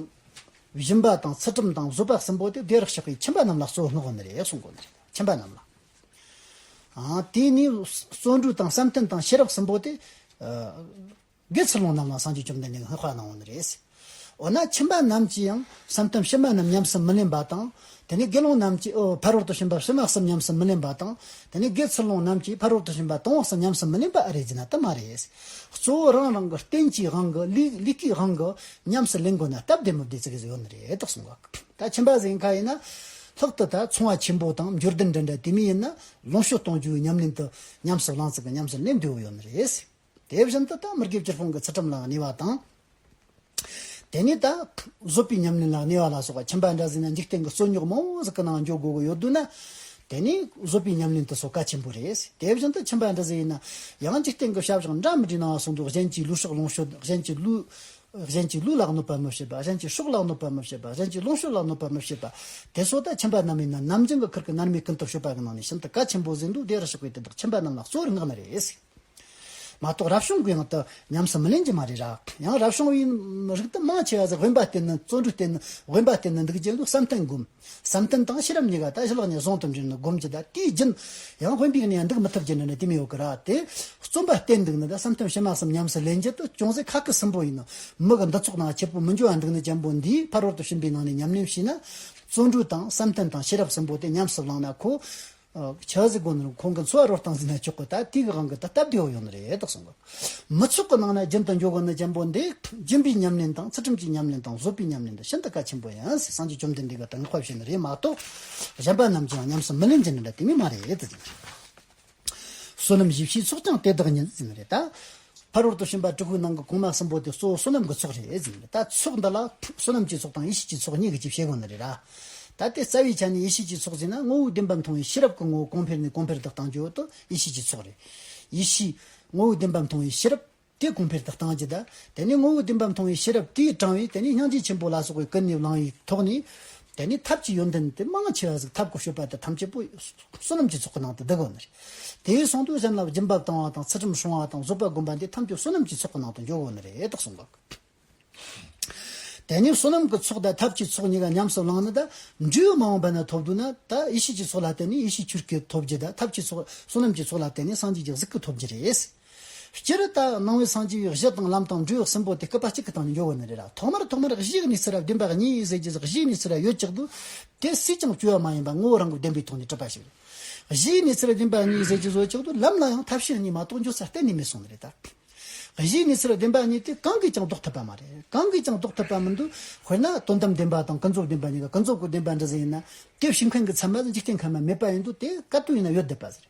[SPEAKER 1] བཞིན་པ་དང་ཚུལ་ཁྲིམས་དང་བཟོད་པ་གསུམ་པོ་དེ་བེ་རག་ཞགས་པའི་ཁྱིམ་པ་རྣམས་ལ་གསོལ་བསྔགས་དགོན་རེད་གསུང་དགོན་རེད་ཁྱིམ་པ་རྣམས་ལ། དེ་ནས་བརྩོན་འགྲུས་དང་བསམ་གཏན་དང་ཤེས་རབ་གསུམ་པོ་དེ། འདིར་ཚུར་ལོངས་རྣམས་ལ་སངས་རྒྱས་བཅོམ་ལྡན་འདས་ཀྱི་སྔགས་བཀླག་གནང་བ་ནི་རེད། འོ་ན་ཁྱིམ་པ་རྣམས་ཀྱིས་ཡང་བསམ་དམ་ཕྱི་མ་རྣམས་ཉམས་སུ་མི་ལེན་པ་དང། དེ་ནས་དགེ་སློང་རྣམས་ཀྱིས་ཕ་རོལ་ཏུ་ཕྱིན་པ་ཕྱི་མ་གསུམ་ཉམས་སུ་མི་ལེན་པ་དང། དེ་ནས་དགེ་ཚུལ་སློང་རྣམས་ཀྱིས་ཕ་རོལ་ཏུ་ཕྱིན་པ་དང་བོ་གསུམ་ཉམས་སུ་མི་ལེན་པ་ཨ་རེ་རྫུན་ན་དུ་མ་རེད། གཙོ་བོ་རང་རང་གི་རྟེན་གྱི་དབང་གིས་ལུས་ཀྱི་དབང་གིས་ཉམས་སུ་ལེན་དགོས་ན་སྟབས་བདེ་མི་བདེ་ཙི་གེ་ཟིག་ཡོད་ནི་རེད་དོ་གསུངས་པ། ད་ཁྱིམ་པ་གཟའི་མཁའ་ཡིན་ན། ལྷག་ཏུ་ད་ཚོང་བ་ཆེན་པོ་དང་མཇུར་དུ་འདྲེན་འདྲ་དེ་མིན་ཡིན་ན་ལོངས་སྤྱོད་གཏོང་རྒྱུའི་ཉམས་ལེན་དུ་ཉམས་སུ་བླངས་ཙི་གི་ཉམས་སུ་ལེན་འདོད་བོ་ཡོད་ནི་རེད། དེ་བཞིན་དུ་ད་མི་དགེ་བཅུར་སྤོང་གི་ཚུལ་ཁྲིམས་ལའང་གནས་པ་དང། དེ་ནས་ད་གཟོད་པའི་ཉམས་ལེན་ལའང་གནས་པ་ལ་སོགས་པ་ཁྱིམ་པ་འདྲ་ཟིན་ན་འཇིག་རྟེན་གྱི་རྩོད་རྙོག་མང་བོ་ཟིག་གི་ནང་འཇོག་དགོས་ཀྱི་ཡོད་དུས་ན། དེ་ནི་གཟོད་པའི་ཉམས་ལེན་དུ་སོགས་གལ་ཆེན་པོ་རེད། དེ་བཞིན་དུ་ཁྱིམ་པ་འདྲ་ཟིན་ཡིན་ན། ཡང་འཇིག་རྟེན་གྱི་ཤ་བཞག་འདྲ་མི་འདྲའི་ནང་སོང་དུས་གཞན་གྱིས་ལུས་ཤོག་ལོངས་སྤྱོད་གཞན་གྱིས་ལུས། གཞན་གྱིས་ལུས་ལ་གནོད་པ་མི་བྱེད་པ་གཞན་གྱིས་ཤོག་ལ་གནོད་པ་མི་བྱེད་པ་གཞན་གྱིས་ལོངས་སྤྱོད་ལ་གནོད་པ་མི་བྱེད་པ། དེ་སོགས་ད་ཁྱིམ་པ་རྣམས་ཡིན་ན་ནམ་རྒྱུན་གྱི་ཁུར་གྱི་མནར་མེད་ཀུན་ཏུ་བཤོད་པ་གྱི་ནང་ནས་ཤིན་ཏུ་གལ་ཆེན་པོ་ཟིན་དུས་དེ་རུ་ཞུགས་པའི་དེ་དག་ཁྱིམ་པ་རྣམས་ལ་གཙོ་བོར་བསྔགས་ནི་རེད། མ་གཏོགས་རབ་བྱུང་གི་ངང་དུ་ཉམས་སུ་མི་ལེན་གྱི་མ་རེད་ར། ཡང་རབ་བྱུང་བའི་རིགས་དུ་མ་ཆེ་བ་ཟེར་དབེན་པ་བསྟེན་ནི་བརྩོན་འགྲུས་བསྟེན་ནི་དབེན་པ་བསྟེན་ནི་འདུག་རྒྱལ་ལོའི་བསམ་གཏན་བསྒོམ། བསམ་གཏན་དང་ཤེས་རབ་གཉིས་ཀ་དལ་བླག་ནས་བཟུང་དུ་འབྱོན་ནི་བསྒོམ་གྱི་ད་དེའི་རྒྱུན། ཡང་དབེན་པའི་གནས་འདུག་མི་ཐུབ་ཀྱི་འདྲ་ནི་དེ་མི་ཡོད་གི་ར་དེ། བརྩོན་པ་བསྟེན་འདུག་ནི་ད་བསམ་གཏན་བྱེ་མ་གསུམ་ཉམས་སུ་ལེན་རྒྱུ་དུ་ཅུང་ཟད་ཁག་གི་སུན་པོ་ཡིན་ནོ། མི་གི་འདི་ཚོགས་ནང་ཁྱེད་པོ་མི་འགྱུར་བ་འདུག་ནི་བྱམས་པོ་འདིས་ཕར་ཧོར་དུ་ཕྱིན་པའི་ནང་ནས་ཉམས་ལེན་བྱས་ན། བརྩོན་འགྲུས་དང་བསམ་གཏན་དང་ཤེས་རབ་གསུམ་པོ་དེ་ཉམས་སུ་བླངས་ན་ཁོ། ཆགས་སྲེད་སྒོ་ནས་ཁོང་གི་འཚོ་བ་རོ་བཏང་ཟིན་ན་ཆོག་གི་ད་ལྟའི་གི་གང་གི་ད་སྟབས་བདེ་བོ་ཡོང་ནི་རེད་དོགས་སོང། མི་ཚོགས་ཀྱི་ནང་ན་རྒྱུན་དུ་འབྱོར་དགོས་ན་རྒྱལ་པོ་འདི་སྦྱིན་པའི་ཉམས་ལེན་དང་ཚུལ་ཁྲིམས་ཀྱི་ཉམས་ལེན་དང་བཟོད་པའི་ཉམས་ལེན་འདི་ཤིན་ཏུ་གལ་ཆེན་པོ་ཡིན་ཟེར་སངས་རྒྱས་བཅོམ་ལྡན་འདས་ཀྱི་དྲིན་ལ་ཕབ་བྱས་ནི་རེད་མ་གཏོགས་གཞན་པ་རྣམས་ཀྱིའང་ཉམས་སུ་མི་ལེན་གྱི་ནི་འདྲ་དེ་མེད་མ་རེད། བསོད་ནམས་བཞི་བཞིའི་ཚོགས་ཀྱང་དེ་དག་ཉིད་ཟིན་ནི་རེད་ད། ཕ་རོལ་ཏུ་ཕྱིན་པ་ཀྲི་ཁུའི་ནང་གི་གོང་མ་གསུམ་པོ་དེ་གཙོ་བོ་བསོད་ནམས་ཀྱི་ཚོགས་རེད་ཟེར་གྱི་རེད་ད། ཚོགས་འདི་ལ། བསོད་ནམས་ཀྱི་ཚོགས་དང་ཡེ་ཤེས་ཀྱི་ཚོགས་གཉིས་ཀྱི་ཅིག་བཤད་དགོས་ནི་རེད། ད་ལྟའི་རྩ་བའི་ཆ་ནས་ཡེ་ཤེས་ཀྱི་ཚོགས་ཟེར་ན་ངོ་བོའི་བདེན་པ་མཐོང་བའི་ཤེས་རབ་ཀྱི་ངོ་བོ་གོང་འཕེལ་ནས་གོང་འཕེལ་དུ་བཏང་རྒྱུ་དེ་ཡེ་ཤེས་ཀྱི་ཚོགས་རེད། ཡེ་ཤེས། ངོ་བོའི་བདེན་པ་མཐོང་བའི་ཤེས་རབ། དེ་གོང་འཕེལ་དུ་བཏང་རྒྱུ་དེ། དེ་ནས་ངོ་བོའི་བདེན་པ་མཐོང་བའི་ཤེས་རབ་དེས་དྲང་བའི་དེ་ནས་སྙིང་རྗེ་ཆེན་པོ་ལ་སོགས་པའི་ཀུན་ནས་བསླང་བའི་ཐོག་ནས། དེ་ནི་ཐབས་ཀྱི་ཡོན་ཏན་ཏེ་མང་ཆེ་བ་ཟིག་ཐབས་ཀྱི་སྤྱོད་པ་སྟེ་ཐམས་ཅད་པོ་བསོད་ནམས་ཀྱི་ཚོགས་ཀྱི་ནང་དུ་བསྡུ་དགོས་ནི་རེད། དེའི་གསུང་དུས་སེམས་ལ་སྦྱིན་པ་བཏང་བ་དང་ཚུལ་ཁྲིམས་སྲུང་བ་དང་བཟོད་པ་བསྒོམ་པ་འདི་ཐམས་ཅད་བསོད་ནམས་ཀྱི་ཚོགས་ཀྱི་ནང་དུ་འཇོག་དགོས་ནི་རེད་དོ་གསུངས་པ། དེ་ནས་བསོད་ནམས་ཀྱི་ཚོགས་དང་ཐབས་ཀྱི་ཚོགས་གཉིས་ཀ་ཉམས་སུ་བླངས་ནས་ད་འཇུག་མ་འོངས་པ་ན་ཐོབ་འདོད་ན་ད་ཡེ་ཤེས་ཀྱི་ཚོགས་ལ་བརྟེན་ནས་ཡེ་ཤེས་ཆུར་སྐྱེས་ཐོབ་རྒྱུ་དང་ཐབས་ཀྱི་ཚོགས་བསོད་ནམས་ཀྱི་ཚོགས་ལ་བརྟེན་ནས་སངས་རྒྱས་ཀྱི་གཟུགས་ཀྱི་ཐོབ་རྒྱུ་རེད། སྤྱིར་རི་དྭགས་སྣང་བའི་སངས་རྒྱས་པའི་གཞི་དང་ལམ་དང་འབྲས་བུ་གསུམ་པོ་དེ་སྐུད་པ་གཅིག་གི་སྟེང་ནས་འཇོག་དགོས་ནི་རེད་ལ་ཐོག་མར་ཐོག་མར་གཞི་གཉིས་ཟེར་བ་བདེན་པ་གཉིས་ཡིན་ཟེར་གྱི་གཞི་གཉིས་ཟེར་བ་ཡོད་ཅག་འདུག་དེ་སུས་ཀྱང་བཅོས་བ་མ་ཡིན་པར་ངོ་བོ་རང་གི་བདེན་པའི་ཐོག་ནས་གྲུབ་པ་ཞིག་རེད། གཞི་གཉིས་ཟེར་བ་བདེན་པ་གཉིས་ཟེར་གྱི་བཟོ་ཅག་འདུག་ལམ་ལ་ཡང་ཐབས་ཤེས་གཉིས་མ་གཏོགས་འཇོག་ས་གཏན་ནས་མེད་སོང་ནི་རེད་ད། གཞི་གཉིས་ཟེར་བ་བདེན་པ་གཉིས་དེ་གང་གིས་ཀྱང་ལྡོག་ཐུབ་པ་མ་རེད་གང་གིས་ཀྱང་ལྡོག་ཐུབ་པ་མི་འདུག་དཔེར་ན་དོན་དམ་བདེན་པ་དང་ཀུན་རྫོབ་བདེན་པ་གཉིས་ཀ་ཀུན་རྫོབ་ཀྱི་བདེན་པ་འདྲི་ཟེར་ཡིན་ན་དེ་བྱིངས་མཁན་གྱི་ཚད་མ་ལ་འཇིག་རྟེན་ཁམས་མ་མེད་པ་ཡིན་འདུག་དེ་དཀའ་སྤྲོ་ཡིན་ན་ཡོད་བསྡད་པ་ཟེར།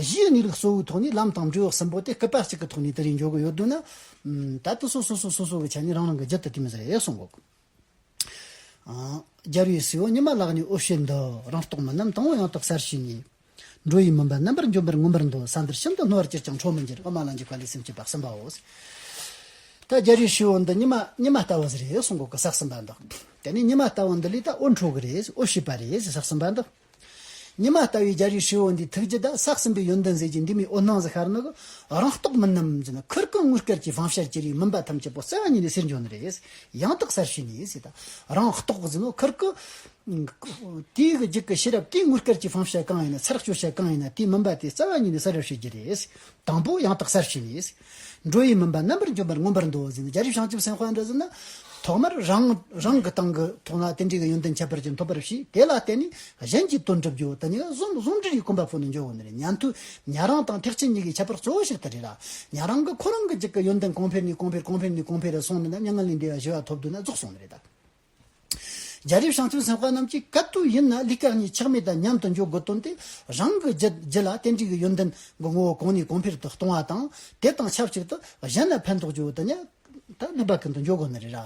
[SPEAKER 1] གཞིའི་གནས་ལུགས་གཙོ་བོའི་ཐོག་ནས་ལམ་དང་འབྲས་བུ་གསུམ་པོ་དེ་སྐུད་པ་གཅིག་གི་ཐོག་ནས་དེ་རིང་འཇོག་གི་ཡོད་འདུག་ན། ད་ལྟ་སོ་སོས་སོ་སོ་སོ་སོ་གི་ཆ་ནས་རང་རང་གི་རྒྱུད་དུ་བསྟན་པ་རེད་གསུང་གོ། རྒྱལ་བའི་སྲས་བོ་ཉི་མ་བཀླགས་ནས་ཨོ་བཤད་འདི་རང་རྟོགས་མིན་ནམ་དང་བོ་ཡང་རྟོགས་གསར་བྱས་ནས། འགྲོ་ཡི་མུན་པ་རྣམ་པར་འཇོམས་པར་མངོན་པར་འདོད་ས་འདིར་ཤིན་ཏུ་སྣང་བར་ཅིར་ཀྱང་འཕྲོ་མི་འགྱུར་དབུ་མ་ལ་འཇུག་པ་ལས་སེམས་བསྐྱེད་པ་གསུམ་པའོ། ད་རྒྱལ་བའི་སྲས་བོ་འདི་ཉི་མ་ཉི་མ་ལྟ་བུ་ཟེར་རེད་གསུང་གོ་གི་ཟག་ཟིན་པ་འདི། དེ་ནས་ཉི་མ་ལྟ་བུ་འདི་ལས་ད་ཨོ་འཕྲོ་གི་རེད་ཨོ་བྱེད་པ་རེད་ཟག་ཟིན་པ་འདི། ཉི་མ་ལྟ་བུའི་རྒྱལ་རིགས་ཧྲིལ་བོ་འདིའི་ཐུགས་རྗེ་དང་སྲག་ཟིན་པའི་ཡོན་ཏན་ཟེར་གྱི་འདི་མི་འོད་སྣང་གཟི་ཤར་ནག་གི་རང་རྟོགས་མིན་ནམ་ཅེ་ན་ཁུར་ཀུན་དངུལ་སྐལ་གྱི་བང་ཤར་གྱི་རིགས་མིན་པ་ཐམས་ཅད་པོ་བརྩེ་བ་ཉིད་ནས་གསེར་འབྱུང་ནི་རེད། ཡང་དག་གསར་ཤོས་ནི་ཟེར་ད་རང་རྟོགས་ཟེར་ནོ་ཁུར་ཀུན། དུས་ཀྱི་འཇིག་གི་ཤེས་རབ་ཀྱིས་དངུལ་སྐལ་གྱི་བང་ཤར་གང་ཡིན་ན་ཚར་གཅོད་བྱེད་གང་ཡིན་ན་དེ་མིན་པ་དེ་བརྩེ་བ་ཉིད་ནས་གསར་རེ་ཤོད་ཀྱི་རེད། དང་པོ་ཡང་དག་གསར་ཤོས་ནི། འགྲོ་ཡི་མིན་པ་རྣམ་པར་འཇོམས་པར་མངོན་པར་འདུ་བ་ཟིན་རྒྱལ་རིགས་བྱང་ཆུབ་སེམས་དཔའ་འདྲ་ཟིན་ན། ཐོག་མར་རང་རང་གི་སྟེང་གི་ཐུགས་ལ་རྟེན་འབྲེལ་གྱི་ཡོན་ཏན་ཁྱད་པར་ཅན་ཐོབ་པར་ཤིས་དེ་ལ་བརྟེན་ནས་གཞན་གྱི་དོན་བསྒྲུབ་རྒྱུ་དེ་ཉིད་ལ་གཟུང་འཛིན་གྱི་གོམས་པ་སྤོ་ནས་འཇོག་དགོས་ནི་རེད་ཉན་ཐོས་ཉན་རང་དང་ཐེག་ཆེན་གཉིས་ཀྱི་ཁྱད་པར་གཙོ་བོ་ཞིག་དེ་རེད་ལ། ཉན་རང་གིས་ཁོ་རང་གི་གཅིག་གི་ཡོན་ཏན་གོང་འཕེལ་ནས་གོང་འཕེལ་གོང་འཕེལ་ནས་གོང་འཕེལ་རེ་སོང་ནས་ན་མྱ་ངན་ལས་འདས་པ་བཞི་བ་ཐོབ་འདོད་ན་རྫོགས་སོང་ནི་རེད་ད། རྒྱ་རིགས་ཤང་ཚུན་སེམས་དཔའ་རྣམས་ཀྱིས་ག་དུས་ཡིན་ན་ལི་སྐག་གཉིས་ཆགས་མེད་དང་མཉམ་དུ་འཇོག་དགོས་བཏོན་ཏེ་རང་གི་རྒྱུད་ལ་ཏན་ཏིག་གི་ཡོན་ཏན་གྱི་ངོ་བོ་གོང་ནས་གོང་འཕེལ་དུ་གཏོང་བ་དང་དེ་དང་ཆབས་ཅིག་ཏུ་གཞན་ལ་ཕན་ཐོགས་ཀྱི་འོས་ཏེ་ལི་སྐག་གིན་དུ་འཇོག་དགོས་ནི་རེད།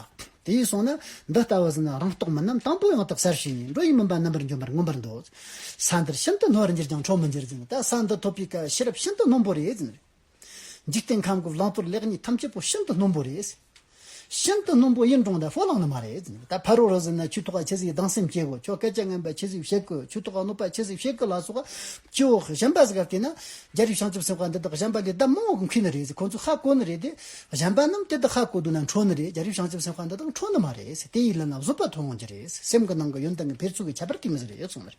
[SPEAKER 1] དེ་ཡིན་སོང་ན་འདི་ལྟ་བུ་ཟིན་ན་རང་རྟོགས་མིན་ནམ་དང་པོ་ཡང་དག་གསར་ཞིག་ཡིན་འགྲོ་ཡི་མིན་པ་རྣམ་པར་འཇོམས་པར་མངོན་པར་འདོད། ས་འདིར་ཤིན་ཏུ་སྣོར་འགྱུར་ཀྱང་འཕྲོག་མི་འགྱུར་ཟིན་ད་ས་འདི་ཐོབ་པའི་སྐབས་ཤེས་རབ་ཤིན་ཏུ་སྣོམ་པོ་རེད་ཟིན། འཇིག་རྟེན་ཁམས་ཀྱི་བླང་དོར་ལེགས་ཉེས་ཐམས་ཅད་པོ་ཤིན་ཏུ་སྣུམ་པོ་རེད། ཤིན་ཏུ་སྣུམ་པོ་ཡིན་གྲང་ལ་ཧྥོ་ལང་ནི་མ་རེད། ད་ཕ་རོལ་རོལ་ཟེར་ན་ཆུ་ཐོག་ཁ་ཕྱེ་ཟིག་སྡང་སེམས་སྐྱེ་གོ་ཁྱོ་སྐད་ཆ་ངན་པ་ཕྱེ་ཟིག་བཤད་དགོས་ཆུ་ཐོག་ཁ་སྣུབ་པ་ཕྱེ་ཟིག་བཤད་དགོས་ལ་སོགས་པ། ཅི་འོ་གཞན་པ་ཟེར་ག་བལྟས་ན། རྒྱ་རིགས་བྱང་ཆུབ་སེམས་དཔའ་འདི་དག་གཞན་པ་ལས་ལྡབ་མང་བོ་གི་མཁས་ནི་རེད་ཟེར་ཁོང་ཚོས་ཧ་གོ་ནི་རེད་དེ། གཞན་པ་རྣམས་དེ་ལྟར་ཧ་གོ་འདུག་ན་འཕྲོ་ནི་རེད་རྒྱ་རིགས་བྱང་ཆུབ་སེམས་དཔའ་འདི་དག་འཕྲོ་ནི་མ་རེད་དེ་ཡིད་ལ་ན་བཟོད་པ་ཐོན་ཡོང་གྱི་རེད་སེམས་ཀྱི་ནང་གི་ཡོན་ཏན་གྱི་འཕེལ་ཚུལ་གྱི་ཁྱད་པར་གྱིས་མི་ཟེར་ཡོད་ཚོད་མ་རེད།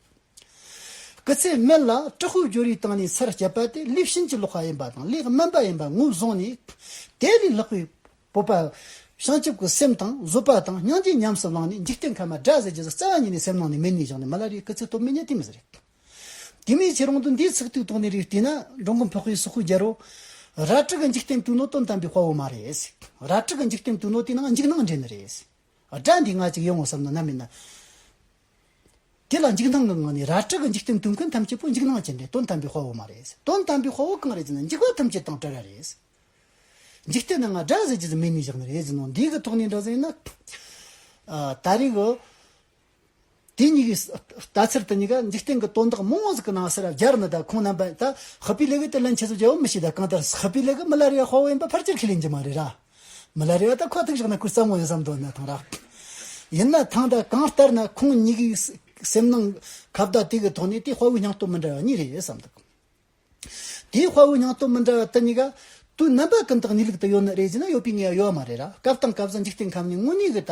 [SPEAKER 1] སྐུ་ཚེའི་སྨད་ལ་ཀྲི་ཧུའུ་ཇོ་རིའི་སྟེང་ནས་ཚར་བཅད་པ་དེ་གླེགས་བྱིན་གྱི་ལོགས་ཀ་ཡིན་པ་དང་གླེགས་དམན་པ་ཡིན་པ་ངོས་བཟུང་ནས། དེ་ལས་ལྷག་པའི་སྤོབས་པ། བྱང་ཆུབ་ཀྱི་སེམས་དང་བཟོད་པ་དང་སྙིང་རྗེ་ཉམས་སུ་བླངས་ནས་འཇིག་རྟེན་ཁམས་མ་དགྲ་ཟས་ཀྱི་བཟའ་བཙའ་བ་ཉིད་ནས་སེམས་ནང་ནས་མེར་ནུས་བཞག་ནས་མི་ལ་རེའི་སྐུ་ཚེ་སྟོབས་མི་ཉག་དེ་མི་ཟེར། དེ་མིན་ཁྱེད་རང་དུ་འདིའི་ཚིག་ཐིག་ཐོག་ནས་རིགས་བལྟས་ན་འགྲོ་མགོན་བྷོ་ཧོའི་སུ་ཧུའི་རྒྱལ་རོ། ར་ཀྲི་གི་འཇིག་རྟེན་དུས་ནོ་དོན་དམ་པའི་དཔའ་བོ་མ་རེད། ར་ཀྲི་གི་འཇིག་རྟེན་དུས་ནོ་དེ་ནང་འཇིགས་སྣང་འདྲེན་ནི་རེད། དགྲ་འདི་ང་གཅིག་ཡིན་འོང་བསམ་ན་ནམ་ཡིན་ན། དེ་ལ་འཇིགས་སྣང་གི་ངང་ནས་ར་སྤྲུལ་གྱི་འཇིག་རྟེན་དུས་མཁན་ཐམས་ཅད་པོ་འཇིགས་སྣང་ཅན་ཏེ་དོན་དམ་པའི་དཔའ་བོ་མ་རེད། དོན་དམ་པའི་དཔའ་བོ་གང་རེད་ཅེ་ན་འཇིགས་པ་ཐམས་ཅད་དང་བྲལ་བ་རེད། འཇིག་རྟེན་ནང་སྒྲ་ཟེར་གྱི་མེད་ནས་བཞག་ནས་རེད་ཟེར་ནོ་འདིའི་གི་ཐོག་ནས་འདྲ་ཟེར་ན། ད་རེས་གི་དེ་གཉིས་ཀྱི་ལྟ་ཚུལ་དེ་གཉིས་ཀ་འཇིག་རྟེན་གྱི་དོན་དག་མང་བོ་ཟིག་གི་ནང་ཟེར་ར་སྦྱར་ནས་ད་ཁོང་རྣམ་པ་ད་ཧི་པི་ལེ་གི་དེ་ལན་ཆེ་ཟོ་རྒྱལ་བོ་མི་ཤེས་ད་གང་ལྟར་ཧི་པི་ལེ་གི་མི་ལར་ཡང་དཔའ་བོ་ཡིན་པ་ཕར་ཆེར་ཁས་ལེན་གྱི་མ་རེད་ར། མི་ལ་རེ་བ་ད་ཁོ་ཐུག་ཤོག་ན་ཁོས་བསམ་བློ་ཡོད་བསམ་འདོད་ནས་ཐང་རག། ཡིན་ན་ཐང་ད་གང་ལྟར་ན་ཁོང་གཉིས་ཀྱི་སེམས་ནང་ཁ་བརྡ་དེ་གི་ཐོག་ནས་དེ་དཔའ་བོའི་སྙིང་སྟོབས་མི་འདྲ་བ་གཉིས་རེད་བསམ་འདུག་དེ་དཔའ་བོའི་སྙིང་སྟོབས་མི་འདྲ་བ་དེ་གཉིས་ཀ་དུས་རྣམ་པ་ཀུན་ཏུ་གནས་ལུགས་དུ་ཡོད་ནི་རེད་ཅེ་ན་ཡོད་པའི་ངེས་པ་ཡོད་མ་རེད་ལ་སྐབས་དང་སྐབས་སུ་འཇིག་རྟེན་ཁམས་ནས་དངོས་གནས་གི་ད་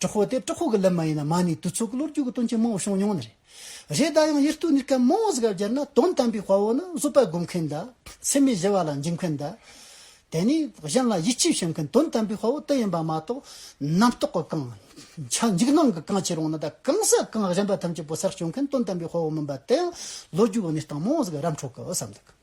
[SPEAKER 1] གྲོགས་པོ་དེ་གྲོགས་པོ་གི་ལུས་མ་ཡིན་ན་མ་ནི་དུས་ཚོད་ཀྱི་ལོ་རྒྱུས་ཀྱི་དོན་ཆེན་མང་བོ་བྱུང་མྱོང་ནི་རེད། རེས་འགའ་ཡང་ཡིད་རྟོན་ནུས་མཁན་མང་བ་ཞིག་ལ་སྦྱར་ན་དོན་དམ་པའི་དཔའ་བོ་ནི་བཟོད་པ་སྒོམ་མཁན་དང་ཚད་མེད་བཞི་བ་ལ་འཇིགས་མཁན་དང། དེ་ནས་གཞན་ལ་ཡིད་ཆེས་བྱེད་མཁན་དོན་དམ་པའི་དཔའ་བོ་དེ་ཡིན་པ་མ་གཏོགས་རྣམ་རྟོག་གི་གང། ཆ་འཇིགས་སྣང་གི་གང་ཆེ་རུང་ན་དང་གང་ཟག་གང་གཞན་པ་ཐམས་ཅད་པོ་སར་བསྐྱོད་མཁན་དོན་དམ་པའི་དཔའ་བོ་མིན་པ་དེའང་ལོ་རྒྱུས་འོག་ནས་སྟངས་མང་བ་ཞིག་རབ་འཕྲོ་གི་བསམ་འདུག།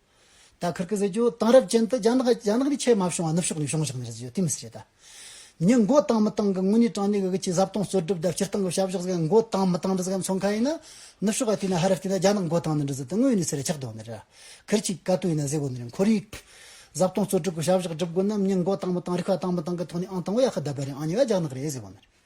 [SPEAKER 1] ད་ཁིར་ཀི་ཟི་ཇོ་དེང་རབས་ཅན་དུ་རྒྱ་ནག་རྒྱ་ནག་ནི་ཆེས་མ་བྱུང་བ་ནུབ་ཕྱོགས་ནས་བྱུང་ཞིག་ནི་རེད་ཟེར་རྒྱུ་དེ་མི་སྲིད་རེད་ད། མྱི་མགོ་བཏང་མི་བཏང་གི་དངོས་གནས་དྲང་གནས་ཀྱི་ཁྱི་ཟབ་གཏོང་གསོད་སྒྲུབ་དང་སྤྱིར་བཏང་གི་བྱ་བཞག་ཟེར་མགོ་བཏང་མི་བཏང་འདི་ཟེར་མཁན་ཚོ་མཁའ་ཡིན་ན། ནུབ་ཕྱོགས་ཀ་བལྟས་ན་ཧ་ར་བལྟས་ན་རྒྱ་ནག་མགོ་བཏང་ནི་འདི་ཟེར་དེ་དངོས་གནས་ཚེ་ར་ཆག་བསྡོད་ནི་རེད། ཁིར་ཅིག་ཀ་ཏུ་ཡིན་ན་ཟེར་དགོས་ནི་རེད་འཁོར་རིགས། ཟབ་གཏོང་གསོད་སྒྲུབ་ཀྱི་བྱ་བཞག་སྒྲུབ་དགོས་ན་མྱི་མགོ་བཏང་མི་བཏང་རིག་པ་བཏང་མི་བཏང་གི་ཐོག་ནས་ཨང་དང་བོ་ཡག་ཤི་རྡ་པ་རེད་ཨང་གཉིས་བ་རྒྱ་ནག་རེད་ཟེར་དགོས་ནི་རེད།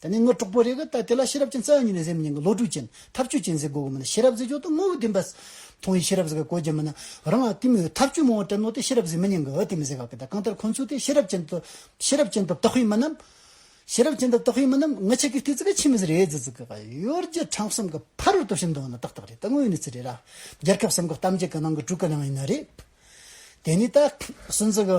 [SPEAKER 1] ད་ནི་དངོས་གྲོགས་པོ་རེ་གི་ལྟ་དེ་ལ་ཤེས་རབ་ཅན་རྩ་ཡང་ཉིད་ནས་གཟེབ་མཉེན་གྱི་བློ་གྲོས་ཅན་ཐབས་བྱུས་ཅན་ཟེར་དགོས་གི་མིན་ལ་ཤེས་རབ་ཟེར་ཆོག་ཏུ་དངོས་པོ་བདེན་པ། མཐོང་བའི་ཤེས་རབ་ཟེར་གི་གོ་རྒྱ་མིན་ན་རང་ལ་བསྟིམ་མོད་ཐབས་བྱུས་མང་བ་དྲན་ནོ་སྟེ་ཤེས་རབ་ཟེར་མི་ཉན་གི་ཨོ་དེ་མི་ཟེར་ག་གི་ད་གང་ལྟར་ཁོང་ཚོས་དེ་ཤེས་རབ་ཅན་དུ་ཤེས་རབ་ཅན་དུ་བཏགས་ཤེས་མིན་ནམ། ཤེས་རབ་ཅན་དུ་བཏགས་ཤེས་མིན་ནམ་ངི་ཆི་གི་ཏི་ཙི་གི་ཆི་མི་ཟེར་ཨེ་ཙི་ཙི་གི་ག་ཡོད་རྒྱུ་གྲངས་གསུམ་གི་ཕ་རོལ་ཏུ་ཕྱིན་འདུག་ན་ཏག་ཏག་རེད་ད་དངོས་ཡོད་གནས་ཚུལ་རེད་ར། རྒྱལ་ཁབ་སམ་གི་གཏམ་རྒྱུད་གི་ནང་གི་དྲུག་གི་ནང་ཡིན་ན་རེད། དེ་ནས་ད། སུན་ཙི་གི།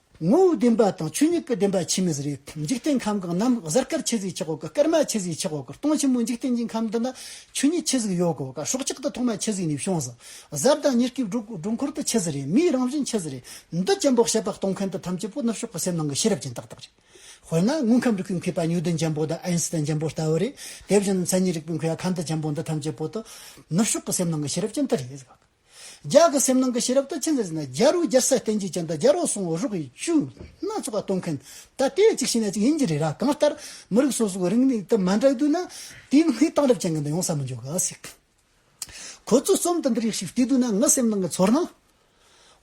[SPEAKER 1] ངོ་བོའི་བདེན་པ་དང་ཆོས་ཉིད་ཀྱི་བདེན་པ་ཆེས་མི་ཟེར་བས་འཇིག་རྟེན་ཁམས་གང་རྣམས་གཟར་སྐར་ཆེ་ཟིག་ཆགས་གོ་དཀའ་སྐར་མ་ཆེ་ཟིག་ཆགས་གོ་དཀར་སྟོང་ཆེན་མོ་འཇིག་རྟེན་གྱི་ཁམས་འདི་ན་ཆོས་ཉིད་ཆེ་ཟིག་ཡོད་གོ་དཀར་སྲོག་གཅིག་ཏུ་ཐོག་མ་ཆེ་ཟིག་ནས་བྱུང་ཟེར། གཟར་དང་ཉེར་སྐྱིབས་སྒྲོ་འཁོར་དུ་ཆེ་ཟེར་རེད་མིའི་རང་བཞིན་ཆེ་ཟེར་རེད་འདི་ཅན་པོག་ཤ་པགས་གཏོང་མཁན་དུ་ཐམས་ཅད་པོ་ནུབ་ཕྱོགས་ཀྱི་སེམས་ནང་གི་ཤེས་རབ་ཅན་ཏག་ཏག་རེད། དཔེར་ན་དངོས་ཁམས་རིག་པའི་མཁས་པ་ནིའུ་ཏོན་ཅན་པོ་དང་ཨེན་སི་ཐན་ཅན་པོ་ལྟ་བུ་རེད་དེ་བཞིན་མཚན་ཉིད་རིག་པའི་མཁས་པ་ཁ་མདོ་ཅན་པོ་འདི་ཐམས་ཅད་པོ་དུ་ནུབ་ཕྱོགས་ཀྱི་སེམས་ནང་གི་ཤེས་རབ་ཅན་ཏི་རེད། ལྗགས་ཀྱི་སེམས་ནང་གི་ཤེས་རབ་ཏུ་ཆེན་ཟེར་ན་རྒྱ་རུ་རྒྱལ་སྲས་བསྟན་འཇིགས་ཅན་དང་རྒྱ་རོག་སོང་བོ་རོག་གི་བཅུ་སྣ་ཚོགས་པ་གཏོང་མཁན་ད་ལྟའི་གཅིག་ཤི་ན་གཅིག་ཡིན་གྱི་རེད་ར་གང་ལྟར་མི་རིགས་སོ་སོའི་རིག་གནས་དུ་མ་འདྲ་འདུག་ན་དེའི་སྔའི་དང་རབས་ཅན་གྱི་འདི་ཡོང་ས་མི་འཇོག་གི་སྲིད། ཁོ་ཚོའི་རྩོམ་དུ་འདི་རིགས་ཤིག་བལྟས་འདུག་ན་ངའི་སེམས་ནང་གི་ཚོར་སྣང།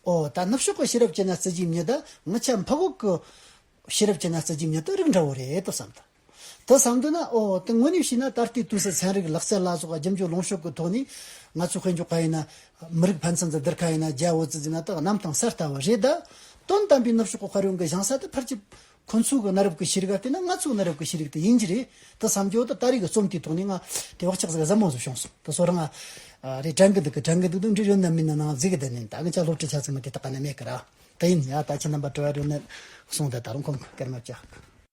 [SPEAKER 1] ཨོ་ད་ནུབ་ཕྱོགས་ཀྱི་ཤེས་རབ་ཅན་ན་བརྩི་རྒྱུའི་མྱི་དང་ང་ཆབ་འཕགས་འོག་གི་ཤེས་རབ་ཅན་ན་བརྩི་རྒྱུའི་མྱི་དེ་རིགས་འདྲ་བོ་རེད་དོ་བསམ་ཐུབ། དེ་བསམ་འདོད་ན་ཨོ་དེ་དངོས་གནས་བྱས་ན་ད་ལྟའི་དུས་སུ་ཚན་རིག་ལག་རྩལ་བླ་སྲོག་རྒྱབ་འཇུག་ལོངས་ཤོག་གི་ཐོག་ནས་ང་ཚོས་དཔེ་འཇོག་ག་ཡིན་ན། མི་རིགས་ཕན་ཚུན་དུ་བསྡུར་ག་ཡིན་ན་རྒྱའི་འོ་ཙི་ཙི་ན་དག་གནམ་དང་སར་ལྟ་བ་རེད་ད། དོན་དམ་པའི་ནུབ་ཕྱོགས་ཀྱི་དཔར་ཡོང་གི་བཞེངས་ས་དེ་ཕར་གྱི། ཁོ་ཚོའི་གི་གནའ་རབས་ཀྱི་ཤེས་རིག་ག་དེ་ནི་ང་ཚོའི་གནའ་རབས་ཀྱི་ཤེས་རིག་དེ་ཡིན་གྱི་རེད་དེ་བསམ་གྱི་འོ་ད་ད་རེས་ཀྱི་རྩོམ་དེའི་ཐོག་ནས་ང། དེ་བག་ཆགས་ཟེར་ག་ཟབ་མོ་ཟིག་བྱུང་སོང་དེ་སོ་རང། རེད་དྲན་གི་འདུག་གི་དྲན་གི་འདུག་དུ་འབྲི་རུ་ནི་མིན་ན་ནང་རྫིག་གི་དེ་ནས་ད་གི་ཅག་སློབ་ཁྲིད་བྱ་རྩིས་མི་དེ་དག་ག་ནས་མེད་གི་ར། དེ་ཡིན་ཡ་ད་ཁྱེད་རྣམ་པ་བྲོ་བ་རུ་ནི། སོང་དེ་ད་རུང་ཁོང་གི་སྐར་མ་བཅག་གི།